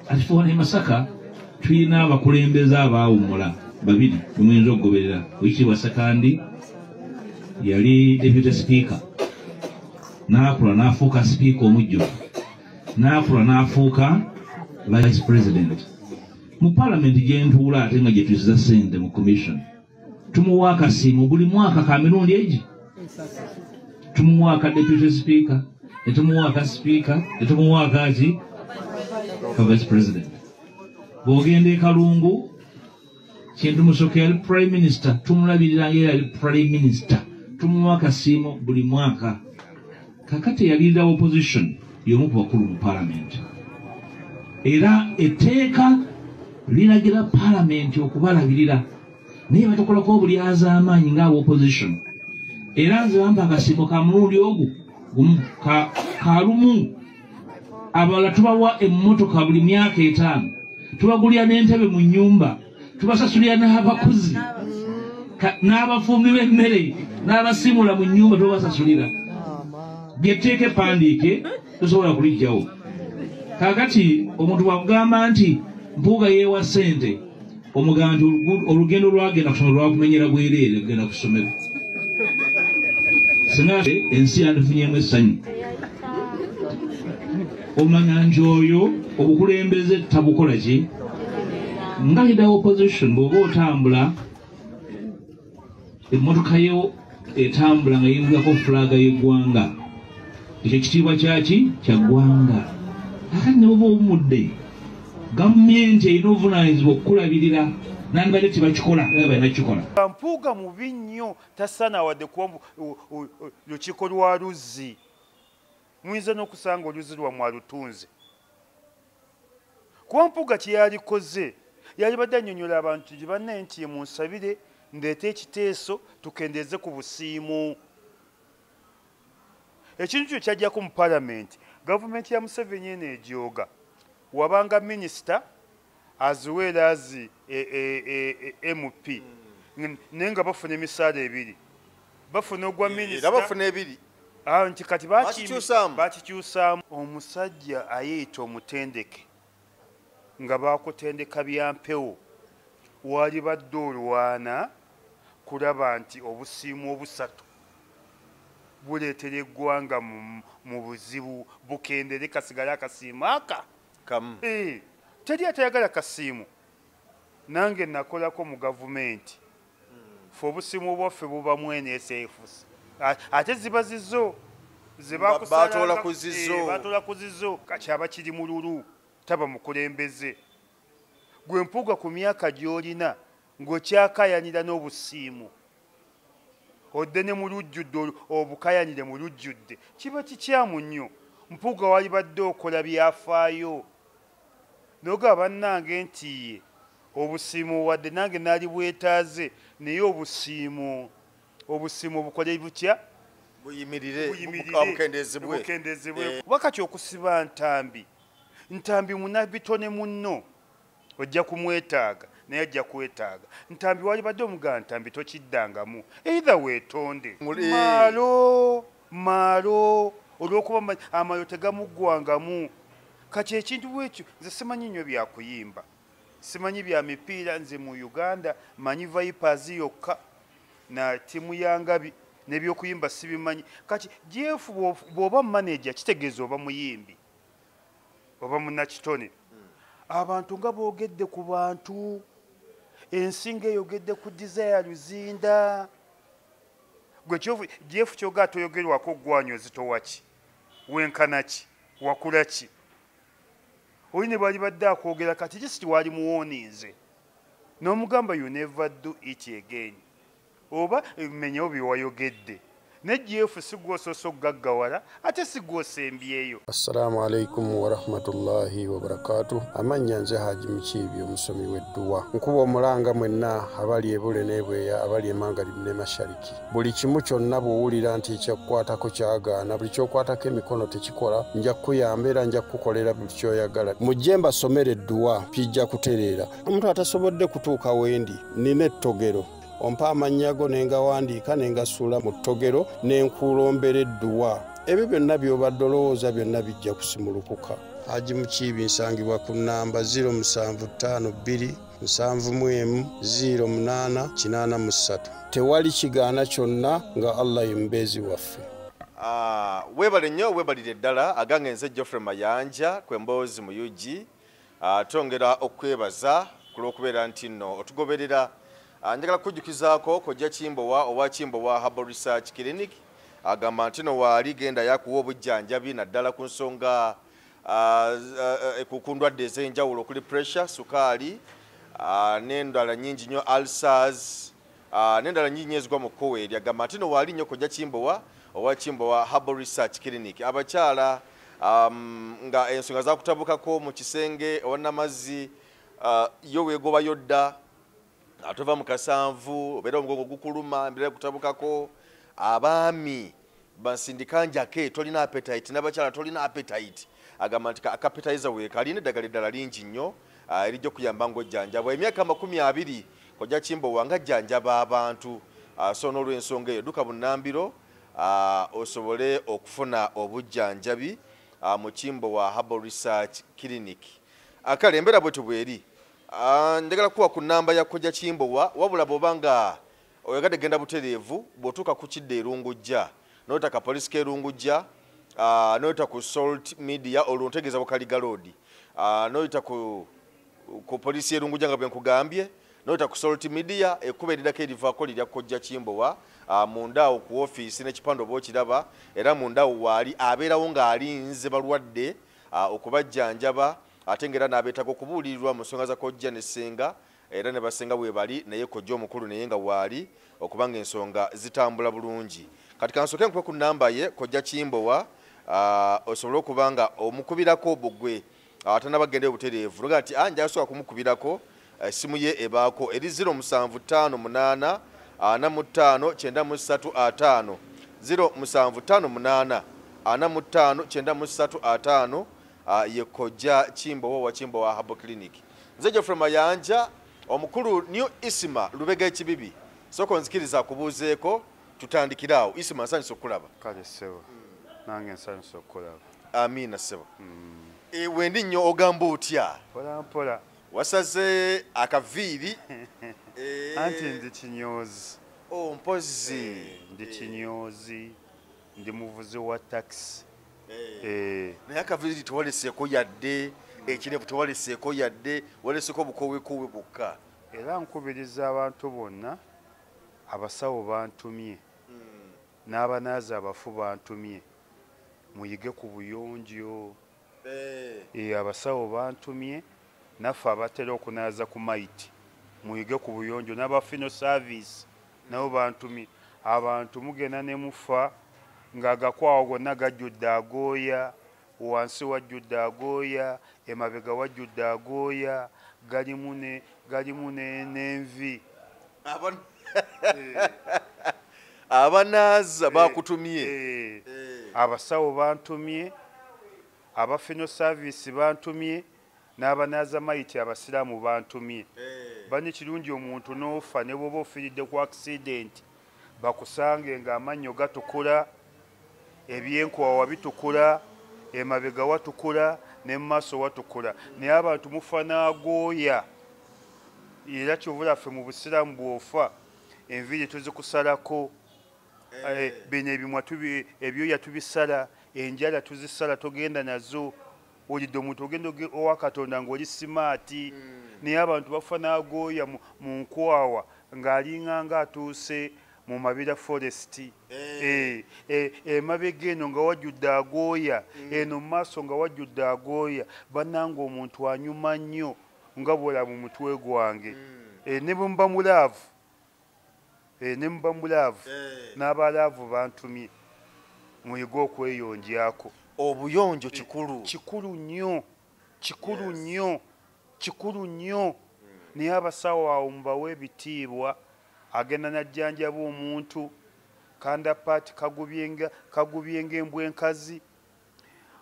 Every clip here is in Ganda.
kati fe wano emasaka tulina abakulembeze abaawumula babiri bemuyinza okugoberera wekitiibwa sekandi yali deputy sipiika n'akula n'afuuka sipiika omujjuvu n'akula n'afuuka vice president mu palamenti gyentuula ate nga gyetusiza sente mu commission tumuwa akasiimo buli mwaka ka mirundi egi tumuwa aka deputy speaker netumuwa aka speaker netumuwa akaki ka vice president bwogenda ekalungu kintu musoke yali prime minister tumulabirira ngaera yali prime minister tumuwa akasiimo buli mwaka kakati eyalirira opposition yomu ku bakulu mu palamenti era etteeka liragira palamenti okubalabirira naye batakolako obulyazaamaanyi nga opposition era nze bamba akasiimo ka mulundi ogu gumu kalumu abalala tubawa emmotoka buli myaka etaano tubagulira n'entebe mu nnyumba tubasasulira n'abakozi ka- n'abafumbi b'emmere n'abasiimula mu nnyumba tubasasulira lyetteeka epandiike tosobola kulijjawo kakati omuntu wakugamba nti mpuuga yeewa sente omugamba nti olugu- olugendo lwagenda kusomero lwakumenyera bwereere kugenda ku ssomero singa ensi yandifunyemu essanyu omanya nti oyo obukulembeze tabukola ki nga lida opposition bwoba otambula emmotoka yo etambula nga yinzako fulaga yeggwanga ekyo kitiibwa kyaki kyaggwanga ate neboba omudde gavumenti erina obuvunanyizibwa okukulabirira nandibadde tebakikola banakikola mpuuga mubi nnyo tasaana wadde kuba lukiiko lwa luzzi muyinza n'okusanga oluzi lwammwe alutunze kuba mpuga kye yalikoze yalibadde annyonnyola abantu nti bannaye nti ye munsabire ndeeta ekiteeso tukendeeze ku busiimu ekintu kyo kyajjako mu palamenti gavumenti ya museveni eno egyoga wabanga minisita as well as e, e, e, e, mp mm. naye nga bafuna emisaala ebiri bafuna ogwa minisabafuna ebiri ah, nti kati bakikyusaamu omusajja ayeyita omutendeke nga bakutendeka bya mpewo waali badde olwana kulaba nti obusiimu obusatu buleetera eggwanga mu buzibu bukendere kasigale akasiimu aka kamu eh, teri atayagala kasiimu nange nakolako mu gavumenti fe obusimu bwaffe buba mwene esefus ate ziba zizo zebakusabatoola eh, ku zizo kati aba kiri mululu taba mukulembeze gwe mpuuga ku myaka gy'olina ng'okyakayanira n'obusiimu odde ne mu lujjudde obukayanire mu lujjudde kiba kikyamu nnyo mpuuga walibadde okola byafaayo noga bannange nti ye obusiimu wadde nange naali bwetaaze naye obusiimu obusiimu obukole butya buyimirirbukendeezebwekuba eh. kati okusiba ntambi ntambi munabitone munno ojja kumwetaaga naye ajja kwetaaga ntambi walibadde omugaa ntambi tokiddangamu eithe weetonde maalo maalo olwokuba amaalo tegamuggwangamu kati ekintu bwekyo nze simanyi nnyo byakuyimba simanyi bya mipiira nze mu uganda manyi vipers yokka na tiimu ya ngabi nebyokuyimba sibimanyi kati jeefu bw'oba manaja kitegeeza oba muyimbi oba munakitone abantu nga boogedde ku bantu ensi nga eyogedde ku desire luzinda gwe jeff kyoga atoyogerwako ogwanyo ozitowaki wenkanaki wakulaki oli ne bali badde akwogera kati jisiti waali muwoninze n'omugamba you never do it again oba menyewo byewayogedde ne gf sigwosoosa okugaggawala ate sigwosembyeyo assalamu alaikum warahmatullahi wabarakatu amannya nze haji mukiibi omusomi wedduwa nkuba omulanga mwenna abali ebule nebweya abali emanga limne mashariki buli kimu kyonna bwowulira nti ekyakukwatako kyagaana buli kyokwatako emikono tekikola nja kukuyamba era nja kukukolera buli kyoyagala mujje mbasomere edduwa pijja kutereera omuntu atasobodde kutuuka wendi nina ettogero ompa amannya go ne ngawandiika ne ngasuula mu ttogero ne nkuulombera edduwa ebyo byonna by'obadde olowooza byonna bijja kusimulukuka haji mukiibi nsangibwa ku nnamba 0 musanvu ttaano bbiri nsanvu mu emu 0 munaana kinaana mu ssatu tewali kigaana kyonna nga allah ye mubeezi waffe ah, weebale nnyo weebalire ddala agange nze geoffrey mayanja kwe mboozi mu ug Ah, twongera okwebaza ku lw'okubeera nti nno otugoberera ah, njagala kukujjukizaako kojja kimbowa owa kimbowa harbal research clinic agamba nti no waali genda yakuwa obujjanjabi naddala ku nsonga ah, ku ndwadde ez'enjawulo okuli pressure sukaali n'endala nyingi nnyo alsars Ah, nendala nyingi nyo ezigwa mu kkowa eryo agamba nti no waali nnyo kojja kimbowa owa kimbowa herbal research clinic abakyala um, nga ensonga zakutabukako mu kisenge owanamazzi uh, yo wegobayo dda atova mu kasanvu obeera omugongo gukuluma embeera kutabukako abaami bansindika njake tolina appetite nabakyala tolina appetite agamba nti akapitaiza weeka alina eddagala eddala lingi nnyo ah, erijja okuyamba ngaojjanjabwa emyaka amakumi abiri kojja kimbowa nga jjanjaba abantu ah, so n'olwensonga eyo duka bunambiro ah, osobole okufuna obujjanjabi mu kimbowa harbal research clinic akale embeera bwetyo bweri njagala kuwa ku namba ya kojja kimbowa wabula bwoba nga oyagadde genda butereevu bw'otuuka ku kidda erungujja noyota ka poliisi k'erungujja ah, noyota ku salt media olwo ntegeeza bukaliga loodi ah, noyita ku ku poliisi y'erungujja nga bwe nkugambye noyita ku salt media ekkuba erirako erivaako lirya kojja kimbowa ah, mundaawo ku ofiisi n'ekipande oba okiraba era mundaawo waali abeerawo ng'alinze balwadde okubajjanjaba ate ngaera n'abeetaga okubuulirirwa mu nsonga za kojja ne ssenga era ne basenga webali naye kojja omukulu naye nga waali okuba nga ensonga zitambula bulungi kati kansoke nkuwe ku namba ye kojja kimbowa ah, osobole okuba nga omukubirako bugwe ah, atanaba genda obutereevu noga nti ah, njasobola kumukubirako essimu eh, ye ebaako eri 0 musanvu ttaano munaana ana mu ttaano kyenda mu ssatu ataano 0 musanvu ttaano munaana ana mu ttaano kyenda mu ssatu ataano ah, ye kojja kimbowa wa kimbowa habo clinic Nze Geoffrey Mayanja omukulu New Isima Lubega ekibibi soko nzikiriza kubuuzeeko tutandikire awo Isima nsanyusa okukulaba kale ssebo nange nsanyusa okukulaba amiina ssebo mm. e, wendi nnyo ogamba otya mpolampola wasaze akaviiri e, anti ndi kinyoozi oh, mpozi e, ndi kinyoozi ndi muvuzi wa takisi eh. eh. naye akaviiri tewaleseeko yadde ekirevu tewaleseeko yadde waleseeko obukowekoowe bwokka era nkubiriza abantu bonna abasawo bantumye hmm. n'abanaazi abafu bantumye muyige ku buyonjo eh. abasawo bantumye naffe abatera okunaaza ku maiti muyige ku buyonjo n'abafino service nabo bantumye abantu mugenda ne mufa ng'agakwawo gonna gajjudde agooya wansi wajjudde agooya emabega wajjudde agooya galimu ne galimu n'envi eh. abanaaza eh. bakutumye eh. abasawo bantumye abafino saavisi bantumye n'abanaazamaiti abasiraamu bantumye eh. banne kirungi omuntu n'ofa ne bwoba ofiiridde ku akisidenti bakusange ng'amannyo gatukula ebyenkowawa bitukula emabega watukula ne mu maaso watukula naye abantu mufa n'agooya era kyovula ffe mu busiraamu bw'ofa enviiri tuzikusalako eh. Eh, bino ebimwa ebyoya tubisala enjala tuzisala togenda nazo olidde omuntu ogenda owa katonda ngaoli simaati mm. naye abantu bafa nagooya mu nkwawa ng'alinga nga atuuse mu mabira forest eh. Eh, eh, emabega eno nga wajjudde agooya mm. eno mu maaso nga wajjudde agooya bananga omuntu anyuma nnyo nga bwola mu mutwe gwange mm. ne bwemuba mulaavu eh, ne muba mu laavu eh. n'aba laavu bantumye muyige okweyonjako obuyonjo kikulu kikulu nnyo kikulu nnyo kikulu nnyo hmm. naye abasawo awo mubawe ebitiibwa agenda najjanjaba omuntu kanda paati kagubyenga embwa enkazi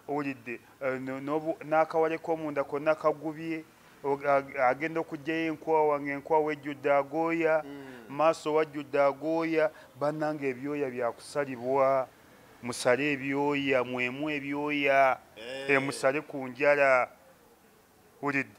owulidde eh, n'akawale k'omunda konna kagubye agenda okugyayo enkwawa ngaenkwawa ejjudde agooya mm. maaso wajjudde agooya bannanga ebyoya byakusalibwa musale ebyoya mwemu ebyoya eh. emusale ku njala wulidde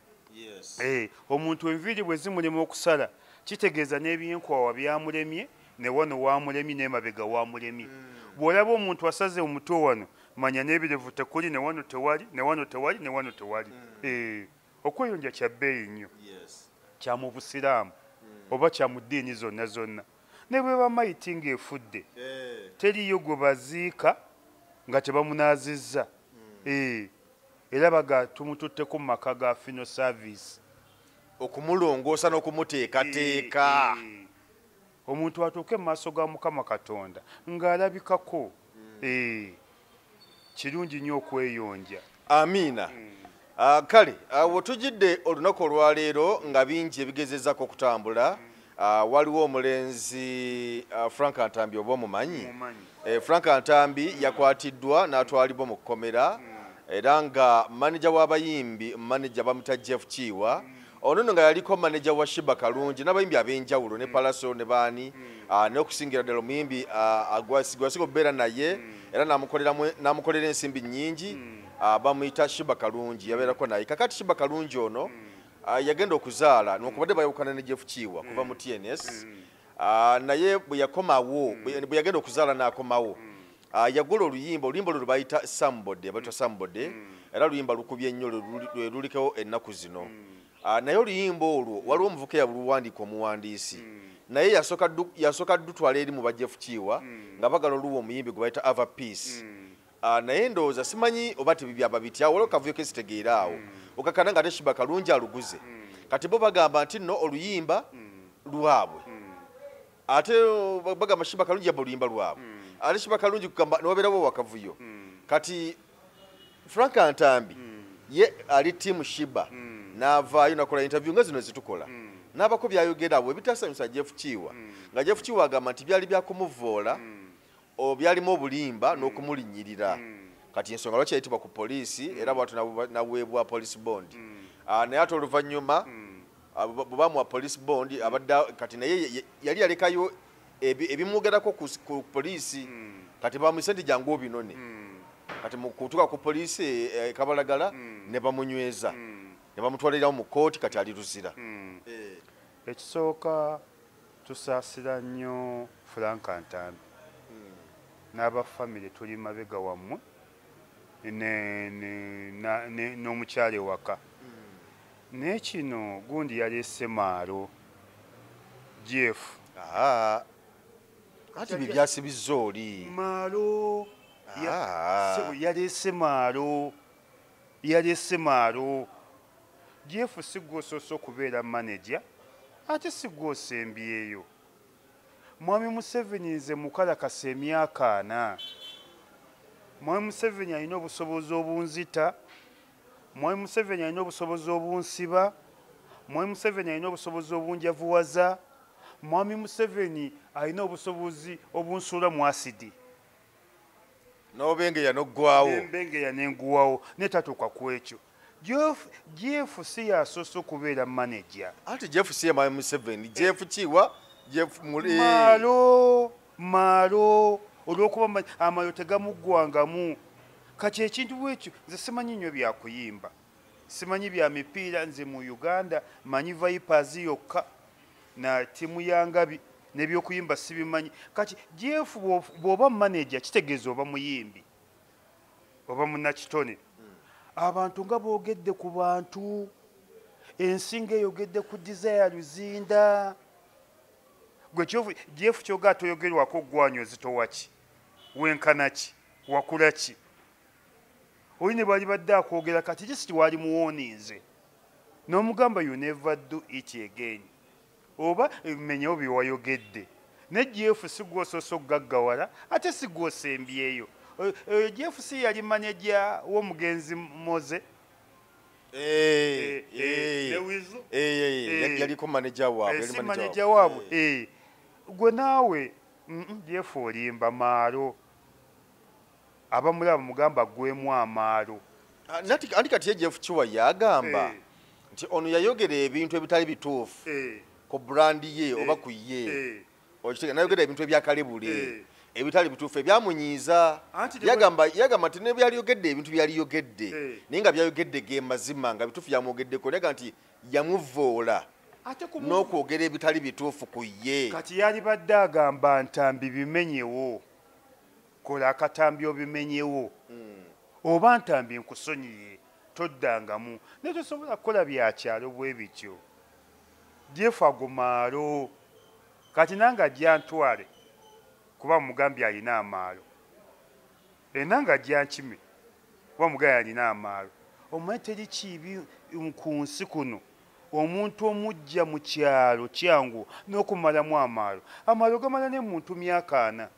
eh, omuntu enviiri bwe zimulema okusala kitegeeza n'ebyenkwawa byamulemye ne wano waamulemye n'emabega waamulemye hmm. bw'olaba omuntu asaze omutwe wano manya n'ebirevu tekuli ne wano tewali ne wano tewali ne wano tewali hmm. eh, okweyonja kya bbeeyi nnyo kya mu busiraamu hmm. oba kya mu ddiini zonna zonna ne bwe bamayiti ng'efudde eh. teriyo gwe baziika nga tebamunaazizza era baga tumututteko mu maka ga fino service okumulongoosa n'okumuteekateeka omuntu atuuke mu maaso ga mukama katonda ng'alabikako hmm. kirungi nnyo okweyonja amiina hmm. ah, kale awo ah, tujidde olunaku olwaleero nga bingi ebigezezako okutambula hmm. Ah, waliwo omulenzi ah, frank ntambi oba omumanyi eh, frank ntambi yakwatiddwa n'atwalibwa mu kkomera era nga maneja w'abayimbi maneja bamuta jeff kiiwa ono no nga yaliko maneja wa shiba kalungi n'abayimbi ab'enjawulo ne palaso ne baani ah, n'okusingira ddala omuyimbi gwasiga okubeera naye era n'amukolera ensimbi nnyingi bamuyita shiba kalungi yabeerako naye kakati shiba kalungi ono Ah, yagenda okuzaala nokubadde bayawukana ne jeff kiiwa kuva mu tns mm. ah, naye bwe yakomawo mm. bwe yagenda okuzaala n'akomawo mm. ah, yagola oluyimba oluyimba olwo lwebayita sambode abaitwa sambode era luyimba lukubye nnyo lulikewo ennaku zino naye oluyimba olwo waliwo omuvuka eyabuluwandiika omuwandiisi naye yasooka dutwala eri mu ba jeff kiiwa nga bagala oluwa omuyimbi gwe bayita ava peace Ah, naye ndowooza simanyi oba tebibyaba bitya waliwo kavuyo kesitegeera awo mm. okakana nga teshiba kalungi aluguze mm. kati bo bagamba nti no oluyimba mm. lwabwe ate bagamba shiba kalungi yaba oluyimba lwabwe ate shiba kalungi kugamba niwabeerawo wakavuyo kati frank antambi ye ali tiamu shiba naavaayo nakola interview nga zino zitukola n'abako byayogera abo ebitaasanyusa jeff kiiwa nga jeff kiiwa agamba nti byali byakumuvvoola o byalimu obulimba mm. n'okumulinyirira mm. kati ensonga lwaki yayitibwa ku poliisi mm. era bwatu naweebwa police bond mm. uh, naye ate oluvannyuma mm. uh, ah, bwebamuwa police bond mm. abadde kati naye yali yalekayo ebimwogerako ku, ku poliisi mm. kati bamuyise nti jangu obinone mm. kati mukutuka ku poliisi e, e, kabalagala mm. ne bamunyweza mm. ne bamutwalirawo mu kooti kati ali luzira mm. e. ekisooka Tusaasira nnyo Frank Ntambi n'aba famire tuli mabega wammwe n'omukyala ewaka naye kino gundi yaleese maalo gf kati bibyasibizza oli maalo yaleese maalo yalese maalo jeefu sigwa osoose okubeera maneja ate sigwa osembyeyo mwami museveni nze mukalakasa emyaka ana mwami museveni alina obusobozi obunzita mwami museveni alina obusobozi obunsiba mwami museveni alina obusobozi obunjavuwaza mwami museveni alina obusobozi obunsuula mu asidi nobengeya noggwawo nembengeya nenguwawo naye tatuuka ku ekyo jeff si yasoose okubeera manaja anti jeff si yamaye museveni jeff kiwa jeff muli malo malo olwokuba amayo tegamuggwangamu kati ekintu bwekyo nze simanyi nnyo byakuyimba simanyi bya mipiira nze mu uganda manyi vipers yokka na timu ya ngabi nebyokuyimba sibimanyi kati jeff bwoba manaja kitegeeza oba muyimbi oba munakitone abantu nga boogedde ku bantu ensinga eyogedde ku desire luzinda gwe jeff kyoga atoyogerwako ogwanyo zitowaki wenkanaki wakulaki oli ne bwalibadde akwogera kati just waali muwoninze n'omugamba you never do it again oba menyewo byewayogedde ne jeff sigwosoose okugaggawala ate sigwosembyeyo eh, eh, jeff si yali maneja w'omugenzi moze yaliko maneja waabwesi maneja waabwe eh, gwe naawe jeff olimba maalo abamulaba bamugamba aggwemu amaalo ah, anti kati yejef kiwa yagamba eh. nti ono yayogera ebintu ebitali bituufu eh. ku brandi ye oba ku ye okitega nayogera ebintu ebyakalebule ebitali bituufu ebyamunyiiza yagamba nti nebyaliyogedde ebintu byaliyogedde naye nga byayogedde ge mazima nga bituufu yamwogeddeko naga nti yamuvoola n'okwogera ebitali bituufu ku ye kati yalibadde agamba ntambi bimenyewo kola akatambi obimenyewo hmm. oba ntambi nkusonyiye toddangamu naye tosobola kukola byakyalo bwe bityo jefu agumaalo kati nange ajjantwale kuba mugambye alina amaalo enanga ajjankime kuba mugambye alina amaalo omanyi teri kiibi ku nsi kuno omuntu omujja mu kyalo kyangu n'okumalamu amaalo amaalo gamala ne muntu myaka ana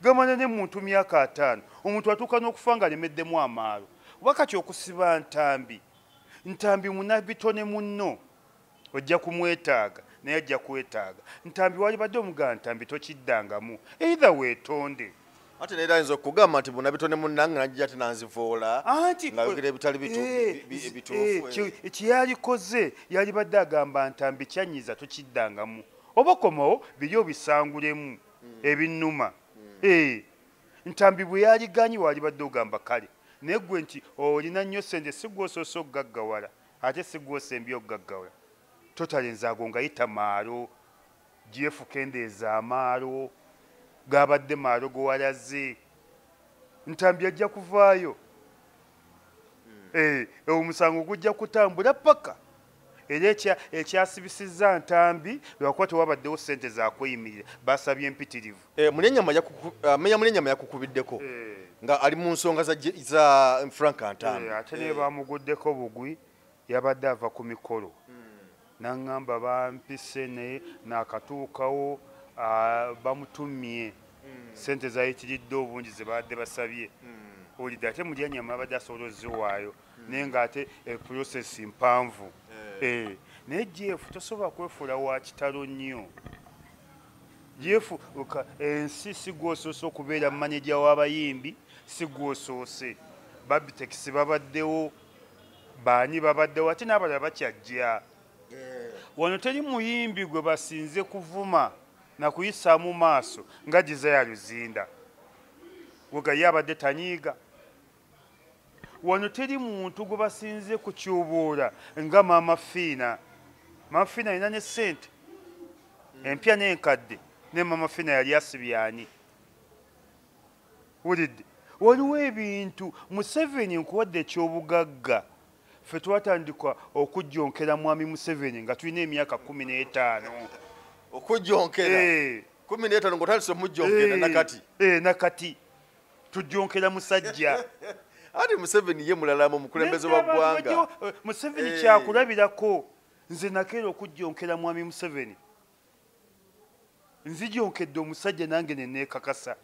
gamanya ne muntu myaka ataano omuntu atuuka n'okufa nga alemeddemu amaalo oba kati okusiba ntambi ntambi munabitone munno ojja kumwetaaga naye ajja kwetaaga ntambi walibadde omugaa ntambi tokiddangamu eithe weetonde ate neera ayinza okugamba nti bunabitone munange najja ate nanzivoola ngayogera ebitali bituufu eh, eh, eh, kyeyalikoze yalibadde agamba ntambi kyanyiza tokiddangamu oba okomawo biri obisangulemu ebinnuma ee ntambi bwe yaliganyi waalibadde ogamba kale naye ggwe nti olina nnyo sente si gwosoose okugaggawala ate si gwosembye okugaggawala totale enzaago nga yita maalo gyefukendeeza amaalo gaabadde maalo gowalaze ntambi ajja kuvaayo ee eh, omusango gujja kutambula paka era ekyasibisizza ntambi lwakuba tewabaddewo ssente zakweyimirira basabye empitirivu eh, eh, meya munenyama yakukubiddeko eh. nga ali mu nsonga za frank ntambi ate naye bamuguddeko bugwi yabadde ava ku mikolo hmm. naŋŋamba bampise naye nakatuukawo ah, bamutumye hmm. sente zayitiridde obungi zebadde basabye hmm. olidde ate mulyanyama abadde asobola oziwaayo naye nga ate eh, process mpanvu eh. eh, naye jeff tosobola kwefuula wa kitalo nnyo jeff ensi sigwosoose okubeera maneja w'abayimbi sigwosoose babitekisi babaddewo baani babaddewo ate n'abalala bakyajja wano teri muyimbi gwe basinze kuvuma nakuyisaamu maaso nga gisaya luzinda wegaye abadde tanyiiga wano teri muntu gwe basinze kutyubuula nga maama fiina maama fiina alina ne ssente empya n'enkadde naye maama fiina yali asibyani wulidde waliwo ebintu museveni nkuwadde ekyobugagga ffe twatandika okujjonkera mwami museveni nga tulina emyaka kumi n'etaano okujjonkera eh. kumi n'etaano ngaotandise omujjonkera eh. nakati eh, nakati tujjonkera musajja ati museveni ye mulalamu omukulembeze wa ggwanga eh, museveni eh. kyakulabirako nze nakeera okujjonkera mwami museveni nzijonkedde omusajja nange neneekakasa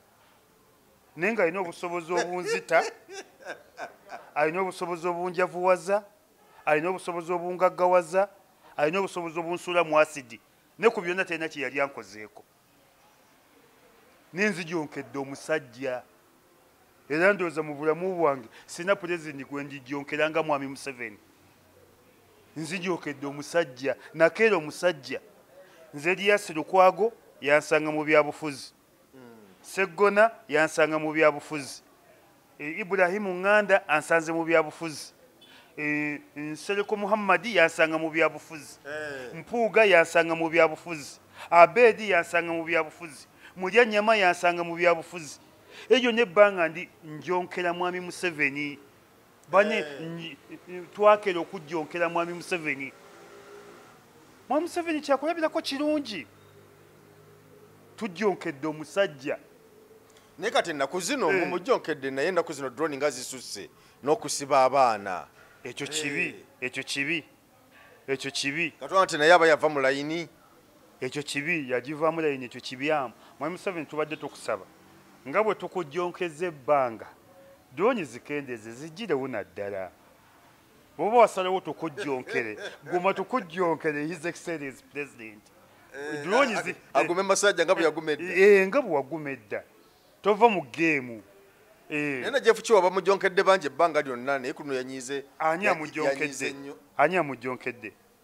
naye nga alina obusobozi obunzita alina obusobozi obunjavuwaza alina obusobozi obungaggawaza alina obusobozi obunsuula mu asidi ne ku byonna talina kye yali ankozeeko ninzijonkedde omusajja era ndowooza mu bulamu bwange sirina pulezidenti gwe njijonkera nga mwami museveni nzijokedde omusajja nakeera omusajja nze liyasi lukwago yansanga mu byabufuzi seggona yansanga mu byabufuzi Eh, Ibrahimu Nganda ansanze mu byabufuzi. Eh, Nsereko Muhammadi yansanga mu byabufuzi. Eh. Mpuuga yansanga mu byabufuzi. Abedi yansanga mu byabufuzi. Mulya nyama yansanga mu byabufuzi. Ejo ne banga ndi njonkera mwami Museveni. Bane eh. twakera okujjonkera mwami Museveni. Mwami Museveni kyakulabirako kirungi. Tujjonkedde omusajja. naye kati ennaku zino mu mujjo nkedde naye ennaku zino drone nga zisusse n'okusiba abaana ekyo kibi eh. ekyo kibi ekyo kibi katwala nti naye aba yava mu layini ekyo kibi yagivamu layini ekyo kibyamu mwami museveni tubadde tukusaba nga bwe tukujjonkeza ebbanga drone zikendeeze zigirewo naddala oba wasalawo tukujjonkere guma tukujjonkere his excellence president eh, dulonyizi eh, agume masajja nga bweyaguma edda eh, nga bwewaguma edda tova mu geemu naye na jeff kiwa bamujjonkedde bangi ebbanga lyonna naye kuno yanyize ani amujjonkedde ani amujjonkedde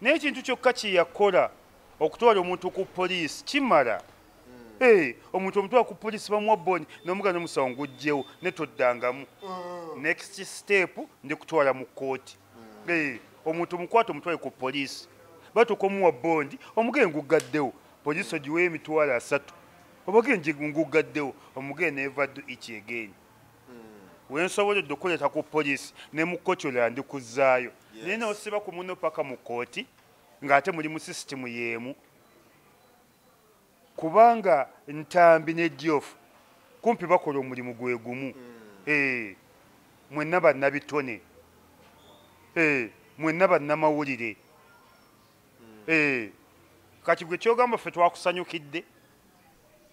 naye ekintu kyokka kye yakola okutwala omuntu ku poliisi kimala hmm. eh, omuntu omutwala ku poliisi bamuwa boni nomuga nomusawo ngujjewo netoddangamu hmm. next step ndi kutwala mu kkooti hmm. eh, omuntu omukwata omutwale ku poliisi batuuka omuwa bondi omugee nguggaddewo poliisi ogiweyo emitwalo asatu obage nguggaddewo omugee neva du ikiegeni wensoboledde okuleeta ku poliisi ne mu kkooti olwo yandikuzzaayo naye nosiba ku muno paka mu kkooti ng'ate muli mu sisitimu y'emu kubanga ntambi ne diofu kumpi bakola omulimu gwe gumu hmm. eh, mwenna bannabitone eh, mwenna bannamawulire hmm. eh, kati gwe kyogamba ffe twakusanyukidde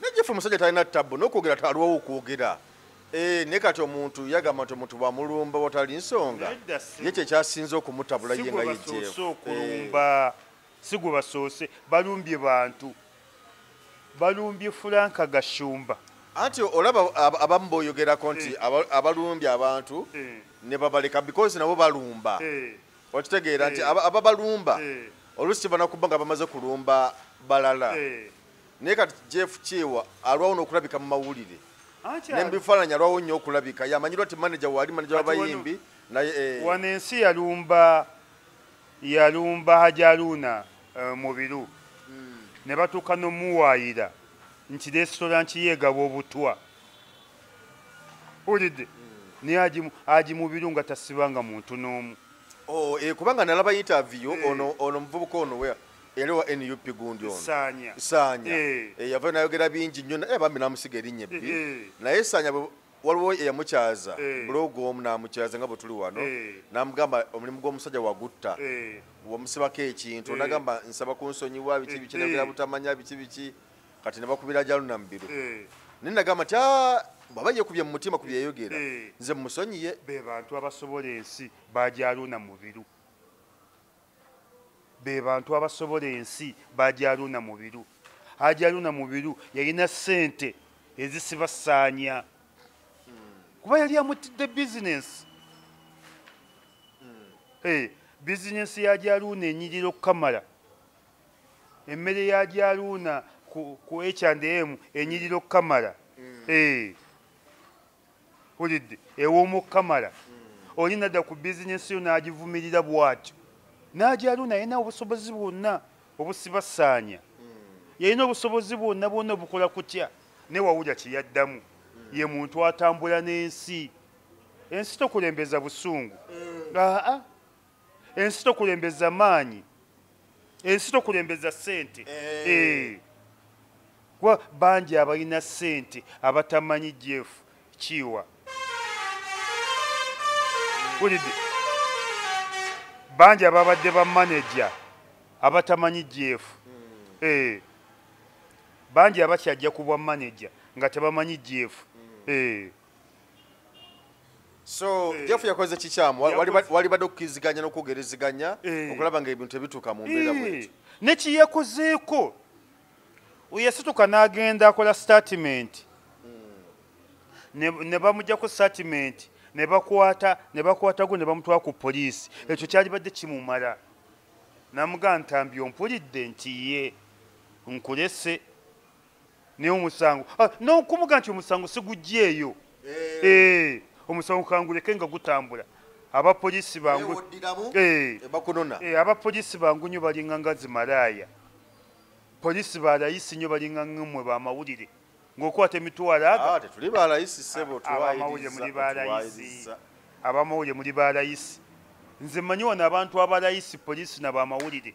najefe omusajja talina tabbu nokwogera taliwawo okwogera eh, ne kati omuntu yagamba nti omuntu bwamulumba watali nsonga ye kyekyasinze okumutabula ye nga yejeokulumba sigwe basoose eh. balumbye bantu balumbye fulanka gashumba anti olaba abamu boyogerako nti eh. abalumbye abantu ne babaleka because nabo balumba okitegeera nti ababalumba olusi kibanakuba nga bamaze kulumba balala naye kati jeff kyewa alwawo nokulabika mu mawulire nembifaananyi alwawo nnyo okulabika yamanyirwa ti manaja waali manaja wabayimbi naye eh, wano ensi yalumba yalumba hajaluuna eh, mubiru hmm. ne batuuka nomuwaayira nti resitola nkiyeegaba obutwa ulidde hmm. naye aji mubiru nga tasibanga muntu n'omu oh, eh, kubanga nalaba yitaviyo ono muvubuka ono wea yali wa nup gundi onosaanya saanya eh. eh, yavayo nayogera bingi nnyo naye bambi namusiga erinnya ebbi eh, naye saanya waliwo eyamukyaza bulogu omu namukyaza nga bwetuli wano namugamba omulimu gw'omusajja wagutta wamusibako ekintu onagamba nsaba kunsonyiwa biki biki nayogera butamanya biki biki kati nebakubira jaluna mubiru naye nagamba ti ah, bwaba yekubye mu mutima ku byeyogera nze musonyiye be bantu abasobola ensi bajaluna mubiru be bantu abasobola ensi bajaluuna mubiru ajaluuna mubiru yalina sente ezisibasaanya kuba yali amutidde bizinensi eh, bizinensi ya jaluuna enyirira okukamala emmere ya jaluuna ku hm enyirira okukamala hmm. eh. ulidde ew'omukamala oli nadda ku bizinesi yo n'agivumirira bw'atyo n'agyalu naye na obusobozi bwonna obusibasaanya yalina obusobozi bwonna bwonna obukola kutya ne wawulira kye yaddamu ye muntu atambula n'ensi ensi tokulembeza busungu aa ensi tokulembeza maanyi ensi tokulembeza sente eh. eh. kuba bangi abalina sente abatamanyi jeff kiwa ulidde bangi ababadde bamanaja abatamanyi jeff hmm. eh. bangi abakyajja kubwa manaja nga tebamanyi jeff hmm. so eh. jeff yakoze kikyamu walibadde okukiriziganya n'okwogereziganya eh. okulaba nga ebintu tebituuka mu mbeera eh. bwekyo nekiyekozeeko yasituka n'agenda akola statimenti ne bamujjako statimenti ne bakwata ne bakwatago ne bamutwala ku poliisi ekyo kyalibadde kimumala namugaa ntambi ompulidde nti ye nkulese naye omusango ah, nokumuga nti omusango sigugyeeyo eh. eh, omusango kanguleke nga gutambula abapolisi eh, abapolisi bangu nyo balinga nga zimalaaya polisi balayisi nyo balinga ngamwe bamawulire ngaokwata emitwalo agoabamawulire muli balayisi nze manyi wano abantu abalayisi polisi nabamawulire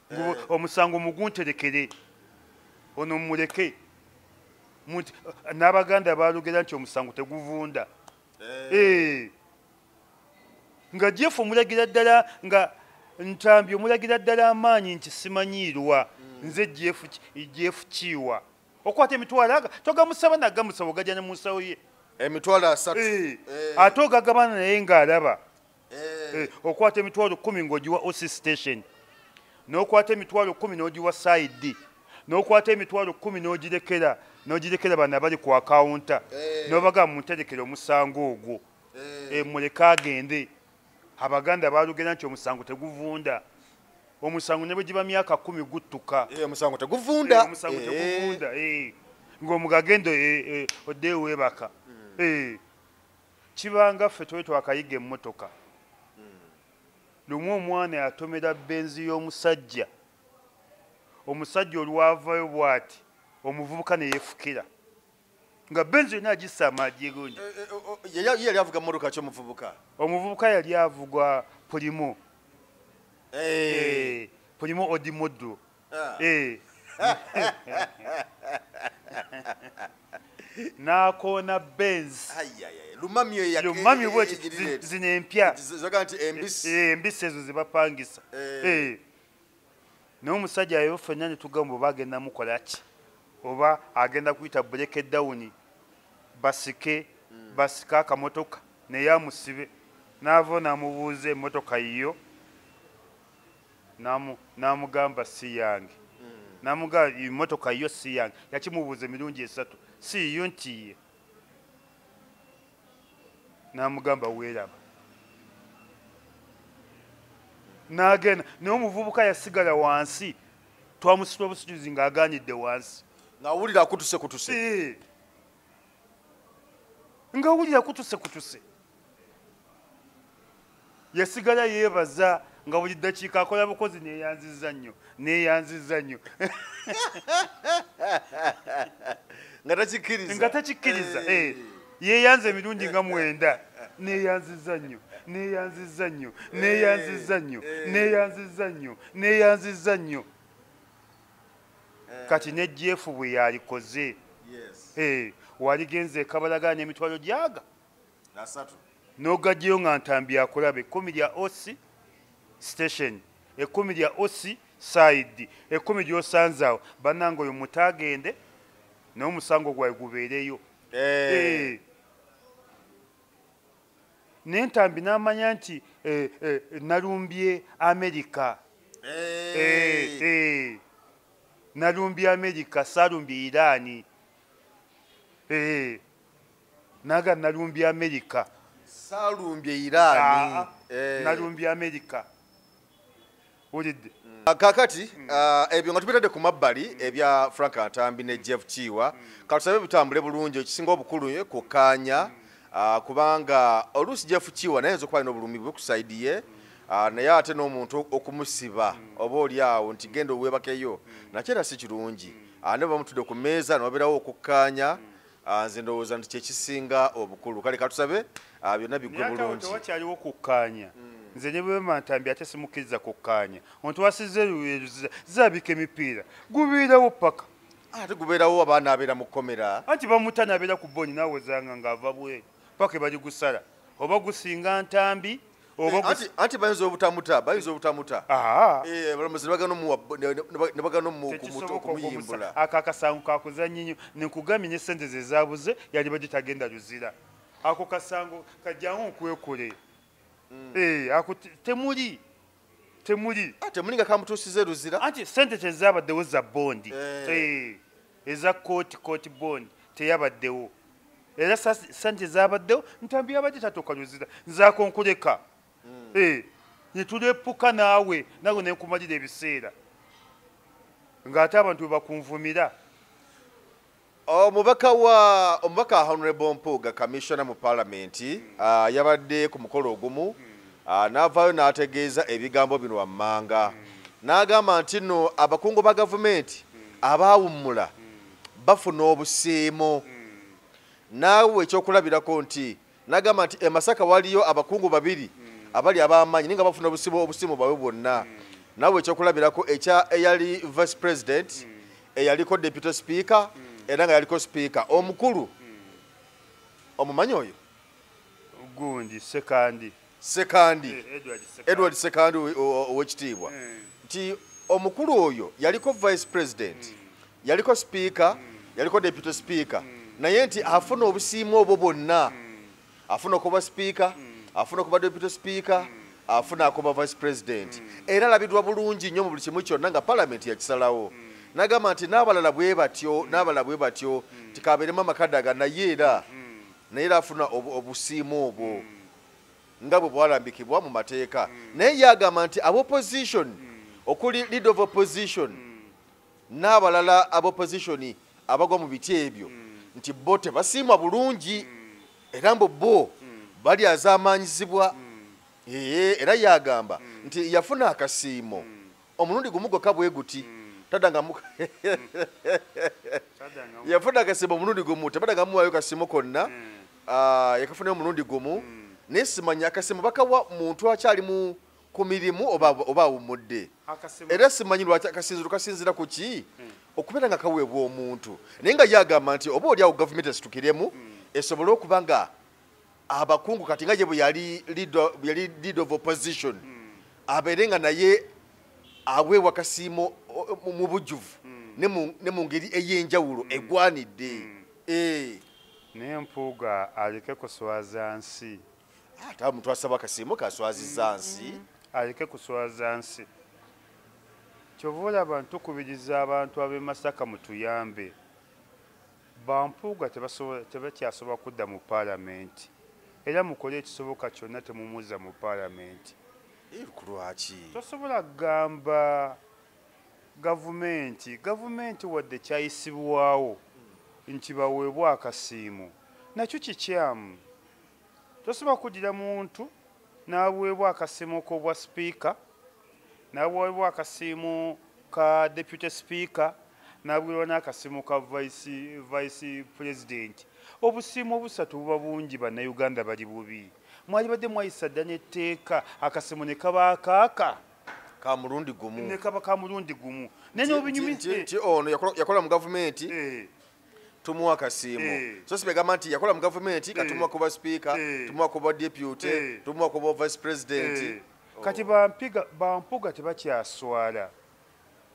eh. omusango mugunterekere ono muleke n'abaganda balugera nti omusango teguvunda eh. Eh. nga jeff omulagira ddala nga ntambi omulagira ddala amaanyi nti simanyiirwa hmm. nze jeff kiiwa okwata emitwalo aga togamusaba nagamusaba ogajana mu nsawo ye emitwalo asatu eh. ate ogagabana naye ng'alaba eh. Eh, okwata emitwalo kumi ngaogiwa oc station nokwata emitwalo kumi nogiwa saidi nokwata emitwalo kumi nogirekera nogirekera bana bali ku akawunta eh. nobaga munterekera omusango ogwo muleke agende abaganda balugera nti omusango teguvunda omusango ne bwegiba myaka kumi guttuka omusango teguvunda ngaomugagendo odeewebaka hmm. Kibanga ffe twali twakayiga emmotoka. Lumu omwana yatomera benzi y'omusajja, omusajja olwavayo bwati omuvubuka ne yefukira nga benzi yonna agissa amagi egungi. Eh, eh, oh, oh, ye yali avuga mmotoka ki omuvubuka? Omuvubuka yali avuga pulimu, eh. pulimu odimoddo. Ah. Eh. n'akoona benz lumamyolumamyo bwekyo zino empya embisi ezo zebapangisa eh. eh. naye omusajja ayo fenna netugamba oba agenda mukola ki oba agenda kuyita bureke dawuni basike hmm. basike akamotoka naye amusibe naava namubuuza emotoka yiyo n'amugamba si yange namuga emotoka yo si yange yakimubuuza emirundi esatu si yiyo nti ye namugamba weeraba nagenda naye omuvubuka yasigala wansi twamusitula busituzi ng'aganidde wansi ngawulira akutuse kutuse ngawulira kutuse kutuse yasigala yeebaza nga buli ddakiika akola bukozi neeyanziza nnyo neeyanziza nnyo nga takikkiriza nga takikkiriza eh. Eh. yeeyanza emirundi nga mwenda neeyanziza nnyo neeyanziza nnyo eh. neeyanziza nnyo neeyanziza nnyo neeyanziza nnyo kati ne jeefu bwe yalikoze waligenze ekabalagana emitwalo gyaga n'ogajjayo nga ntambi akulaba ekkumi lya oc station ekkumi lya oc saidi ekkumi lyosanzaawo bannanga oyo muta agende naye omusango gwawe gubeereyo eh. Eh. naye ntambi n'amanya nti eh, nalumbye amerika nalumbye amerika salumbye iraani naga nalumbye america salumbye irani ah, eh. nalumbye america olidde mm. ah, kakati mm. ah, ebyo nga tubitadde ku mabbali mm. ebya frank atambi ne jeff kiwa katusabe bitambule bulungi ekisinga obukulu eh, kukaanya kubanga oluusi jeff kiwa naye nza okubalina obulumi bwe kusaidi ye naye ate n'omuntu okumusiba oba oli awo nti genda owebakeyo nakyo era si kirungi ne bamutudde ku meeza noberawo okukkaanya Ah, nze ndowooza nti kyekisinga obukulu kale katusabe ah, byonna bigwe bulungiwakyaliwo kukkaanya hmm. nze ne bwemantambi ate simukkiriza kukkaanya ontu wasiza eruweruziza zabika emipiira gubeerawo paka ah, ate gubeerawo abaana abeera mu kkomera anti bamuta nabeera ku boni nawozanga ngaava bweru paka ebali gusala oba gusinga ntambi anti bayinza obutamuta bayinza obutamuta abalamuzi nebagana okumuyimbula ako akasango kakuzanyi nyo nekugambye ne sente zezabuze yali baje tagenda luzira ako kasango kajangu nkwekule mm. eh, ako temuli temuli ah, temuli nga kamutusize luzira anti sente tezabaddewo za bondi eh. Eh. eza kooti kooti bond teyabaddewo era sente zabaddewo ntambi yabadde tatukanyiza nzakonkuleka hmm. eh, netulepuka naawe nawe nenkumalira ebiseera ngaate abantu bebakunvumira omubaka oh, wa omubaka honorable mpuuga kamissiona mu palamenti hmm. ah, yabadde ku mukolo ogumu hmm. Ah, n'avaayo n'ategeeza ebigambo bino wammanga n'agamba nti no abakungu ba gavumenti abaawummula bafuna obusiimo naawe ekyokulabirako nti n'agamba nti emasaka waliyo abakungu babiri abali ab'amaanyi naye nga bafuna obusiimo obusiimo bwabwe bwonna naawe ekyokulabirako ekya eyali vice president eyaliko deputy speaker era nga yaliko speaker omukulu omumanyi oyo gundi sekandi sekandi eh, edward sekandi owekitiibwa eh. nti omukulu oyo yaliko vice president hmm. yaliko sipiika hmm. yaliko deputy sipiika hmm. naye nti afuna obusiimu obwo bwonna afuna okuba sipiika afuna okuba deputy sipiika afuna akuba vice president era alabidwa bulungi nnyo mu buli kimu kyonna nga palamenti yakisalawo nagamba nti n'abalala bwe batyo n'abalala bwe batyo tikabeeremu amakadaga naye era naye era afuna obusiimu obwo hmm. nga bwe bwalambikibwa mu mateeka hmm. naye ye agamba nti abopposition hmm. okuli lead of opposition n'abalala aboppositioni abagwa mu biti ebyo nti bo tebasiimwa bulungi era mbu bo balyazaamaanyizibwa era ye agamba nti yafuna akasiimo omulundi gumu gwokka bwe guti hmm. tadangamu yafuna akasimu omulundi gumu tebadangamu wayo kasimu konna hmm. ah, yakafunayo omulundi gumu hmm. naye simanya akasimu bakawa muntu akyalimu ku mirimu oba awumudde era simanyi lwaki akasinziro kasinzira ku ki okubeera nga kaweebwa omuntu naye nga yagamba nti oba oli awo gavumenti esitukiremu esobole okuba nga abakungu kati nga gye bwe yali lead of opposition hmm. abeere nga naye aweebwa kasiimo mu bujjuvu hmm. ne mu ngeri ey'enjawulo hmm. egwanidde eh. naye mpuuga aleke kuswaza nsi ate omuntu asaba kasiimo kaswaziza nsi aleke kuswaza nsi kyova olaba ntukubiriza abantu ab'e masaka mutuyambe Ba Mpuuga tebakyasobola kudda mu Palamenti era mukole ekisoboka kyonna temumuzza mu Palamenti. Ku lwaki? Tosobola kugamba Gavumenti, Gavumenti wadde kyayisibwawo nti baweebwe akasiimo, nakyo kikyamu. Tosobola kuddira muntu n'aweebwa akasiimo k'obwa sipiika, n'aweebwa akasiimo ka deputy sipiika, n'aweebwa n'akasiimo ka vice pulezidenti. Obusiimo obusatu buba bungi bannayuganda bali bubi. Mwalibadde mwayisa dda n'etteeka akasiimo ne kaba akaaka. Kamulundi gumu. Ne kaba kamulundi gumu. Naye n'obinyumiza. Ono yakola mu gavumenti. Eh. tumuwa kasiimu eh. so sibegamba nti yakola mu gavumenti katumuwa eh. kuba sipiika eh. tumuwa kuba deputy tumuwa kuba vice president oh. kati bampiga bampuga tebakyaswala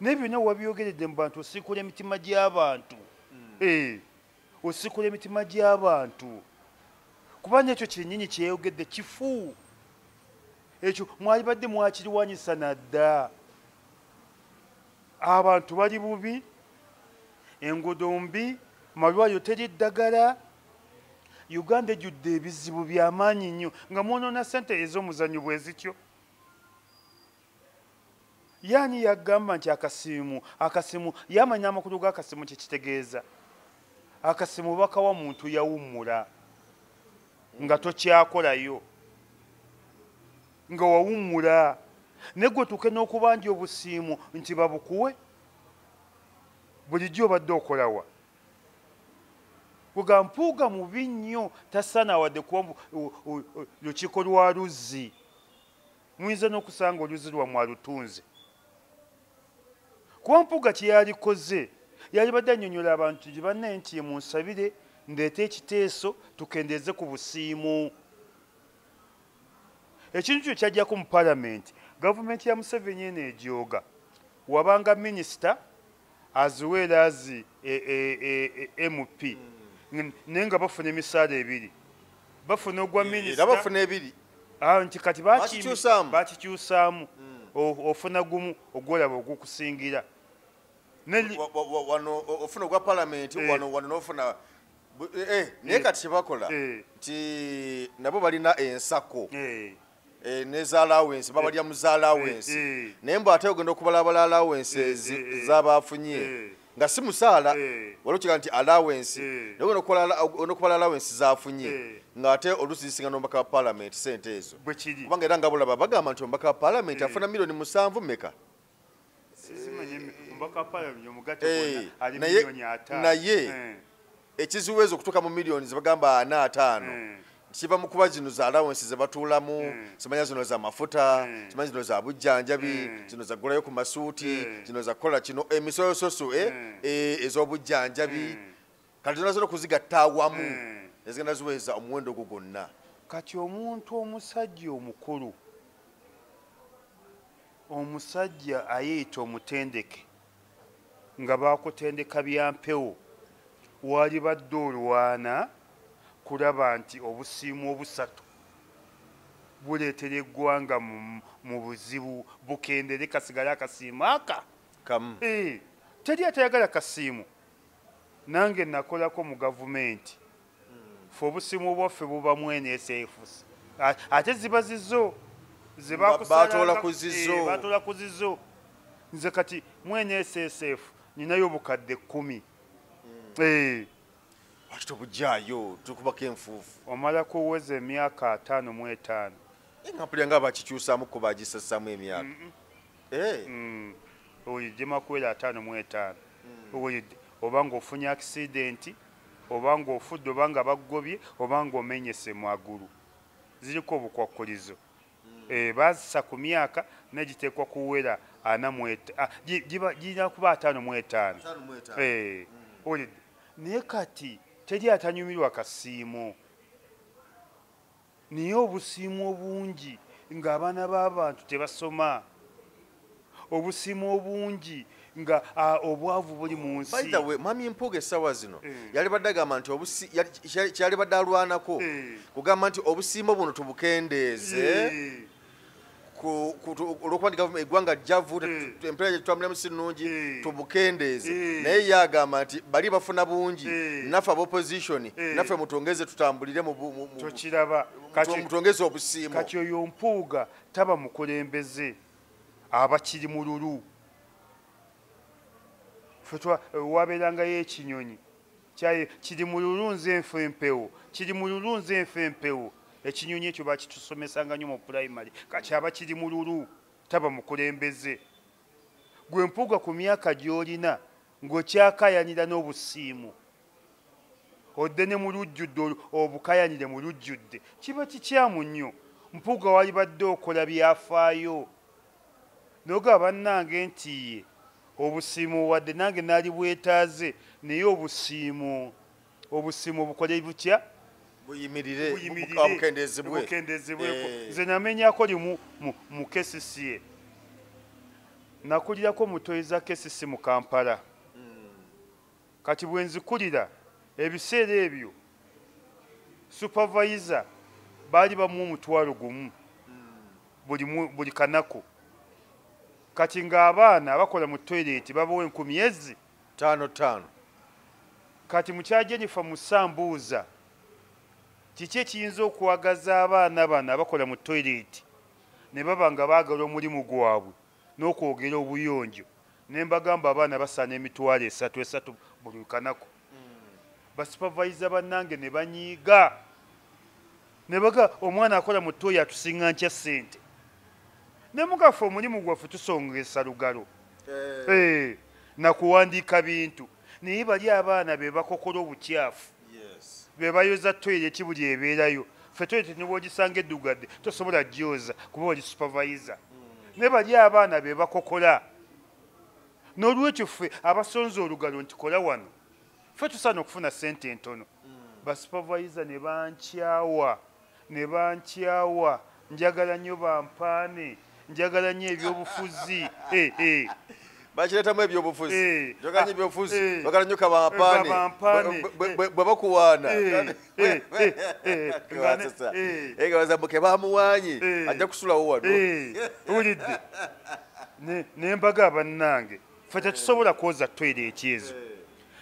naye byonna wabyogeredde mu bantu osikula emitima gy'abantu hmm. osikula emitima gy'abantu kuba nekyo kyenyini kyeyogedde kifu ekyo mwalibadde mwakiriwanyisa nadda abantu bali bubi enguudo mbi malwayo teri ddagala uganda ejjudde ebizibu byamaanyi nnyo nga mwonoona sente ez'omuzannyo bwe zityo yaani yagamba nti akasimu akasimu yamanya amakulu g'akasimu kyekitegeeza akasimu bakawa muntu yawummula nga tokyakolayo nga wawummula naye gwe tuke n'okubanja obusiimu nti babukuwe bulijjo obadde okolawa kuga mpuuga mubi nnyo tasana wadde kuba lukiiko lwa luzzi muyinza n'okusanga oluzzi lwammwe alutunze kuba mpuuga kyeyalikoze yalibadde annyonnyola abantu nti banne nti ye munsabire ndeete ekiteeso tukendeeze ku busiimu ekintu kyo kyajjako mu palamenti gavumenti ya museveni eno egyoga wabanga minisita aziweera azi e, e, e, mp hmm. naye nga bafuna emisaala ebiri bafuna ogwa eh, minisitbafuna ebiri ah, nti kati bakikyusaamu hmm. ofuna gumu ogwolaba ogukusingira wano ofuna ogwa palamenti eh. wano nofuna Eh, eh, naye kati kyebakola eh. nti nabo balina ensako nezalawensi babalya muzalawensi naye mbu ate ogenda okubalabala alawensi zabafunye nga si musaala wali okiga nti alawensi naye ogenda okubala alawensi zafunye nga ate oluusi zisinga nomubaka wa palamenti sente ezo kubanga era nga bulaba bagamba nti omubaka wa palamenti afuna milioni musanvu meka Eh, naye eh. ekizibu ezo okutuuka mu millioni zebagamba ana ataano eh. kiva mu kuba zino za alawensi zebatuulamu simanya zino za mafuta simanya zino za bujjanjabi zino zagulayo ku masuuti zino zakukola kino emisoyososo ez'obujjanjabi kati zona zona okuzigatta awamu hmm. ezigenda ziweza omuwendo ogwo gwonna kati omuntu omusajja omukulu omusajja ayeeyita omutendeke nga bakutendeka byampewo walibadde olwana kulaba nti obusiimu obusatu buleetera eggwanga mu buzibu bukendere kasigale akasiimu aka kamu eh, teri atayagala kasiimu Nange nakolako mu gavumenti fe obusimu bwaffe buba mwene esefus ate ziba zizo zebakusabatoola eh, ku zizo nze kati mwene esesf ninayo bukadde kumi hmm. eh. wakita obujaayo tukubako enfuufu omala kuweza emyaka ataano mu etaano eh, nga mpulira nga bakikyusamu kubagisassamu emyaka Eh. Mm. oyije makuwera ataano mu etaano mm. oba ng'ofunye akisidenti oba ng'ofudde oba nga baggobye oba ng'omenyese mu agulu ziriko obukwakkulizo mm. eh, bazisa ku myaka naye giteekwa kuwera ana ah, girina kuba ataano mu etaano eh, mm. naye kati teri atanyumirwa kasiimo naye obusiimu obungi ng'abaana b'abantu tebasoma obusimu obungi nga obwavu buli mu nsi mwami mpuuga essaawa zino eh. yali badde agamba nti kyali badde alwanako eh. kugamba nti obusiimo buno tubukendeeze eh. olwokuba nti eggwanga jjavu hmm. empeera gyetutambulamu si nnungi hmm. tubukendeeze hmm. naye ye agamba nti bali bafuna bungi naffe abaopposition naffe mutwongeze tutambulire mutwongeze obusiimu kati oyo mpuuga taba mukulembeze abakiri mu lulu wabeerangayo ekinyonyi kyaye kiri mu lulunzi enfu empewo kiri mu lulunzi enfu empewo ekinyonyi ekyo bakitusomesanga nyo mu pulayimale kakyaba kiri mu lulu taba mukulembeze gwe mpuuga ku myaka gy'olina ng'okyakayanira n'obusiimu odde ne mu lujjudde obukayanire mu lujjudde kiba kikyamu nnyo mpuuga walibadde okola byafaayo noga bannange ntiye obusiimu wadde nange naali bwetaaze naye obusiimu obusiimu obukole butya buyimirirbukendeezebweko eh. nze namenyako limu mu kcca nakulirako mutoyi za kcc mu kampala Kati bwe nzikulira, ebiseera ebyo supavayiza baali bamuwa omutwalo gumu buli kanaku. Kati ng'abaana abakola mu toyireeti babawa enkumi ezi. Ttaano ttaano. Kati mukyala Jennifer Musa mbuuza kiki ekiyinza okwagaza abaana bano abakola mu toyireeti ne baba nga baagala omulimu gwabwe? n'okwogera obuyonjo ne mbagamba abaana basaana emitwalo esatu esatu buli lukanaku basupavayiza bannange ne banyiiga ne baga omwana akola mu tooyi atusinga nkya ssente ne mugaffe omulimu gwaffe tusongesa lugalo eh. Eh, nakuwandiika bintu naye bali abaana be bakokola obukyafu bebayoza toyireti buli ebeerayo fe toyireti nebwogisanga eddugadde tosobola gyoza kuba oli supavayiza hmm. naye bali abaana bebakokola n'olwekyo ffe abasonza olugalo nti kola wano fe tusaana okufuna sente entono hmm. basupavayiza ne bankyawa ne bankyawa njagala nnyo bampaane njagala nnyo ebyobufuzi eh, eh. bakiretamu ebyobufuzi eh, njagala nnyo ah, ebyobufuzi bagala nnyo kabampaane bwe bakuwaana egabazamuke bamuwaanyi ajja kusulawo wano wulidde nembaga abannange fe tetusobola kwoza toyira ekyezo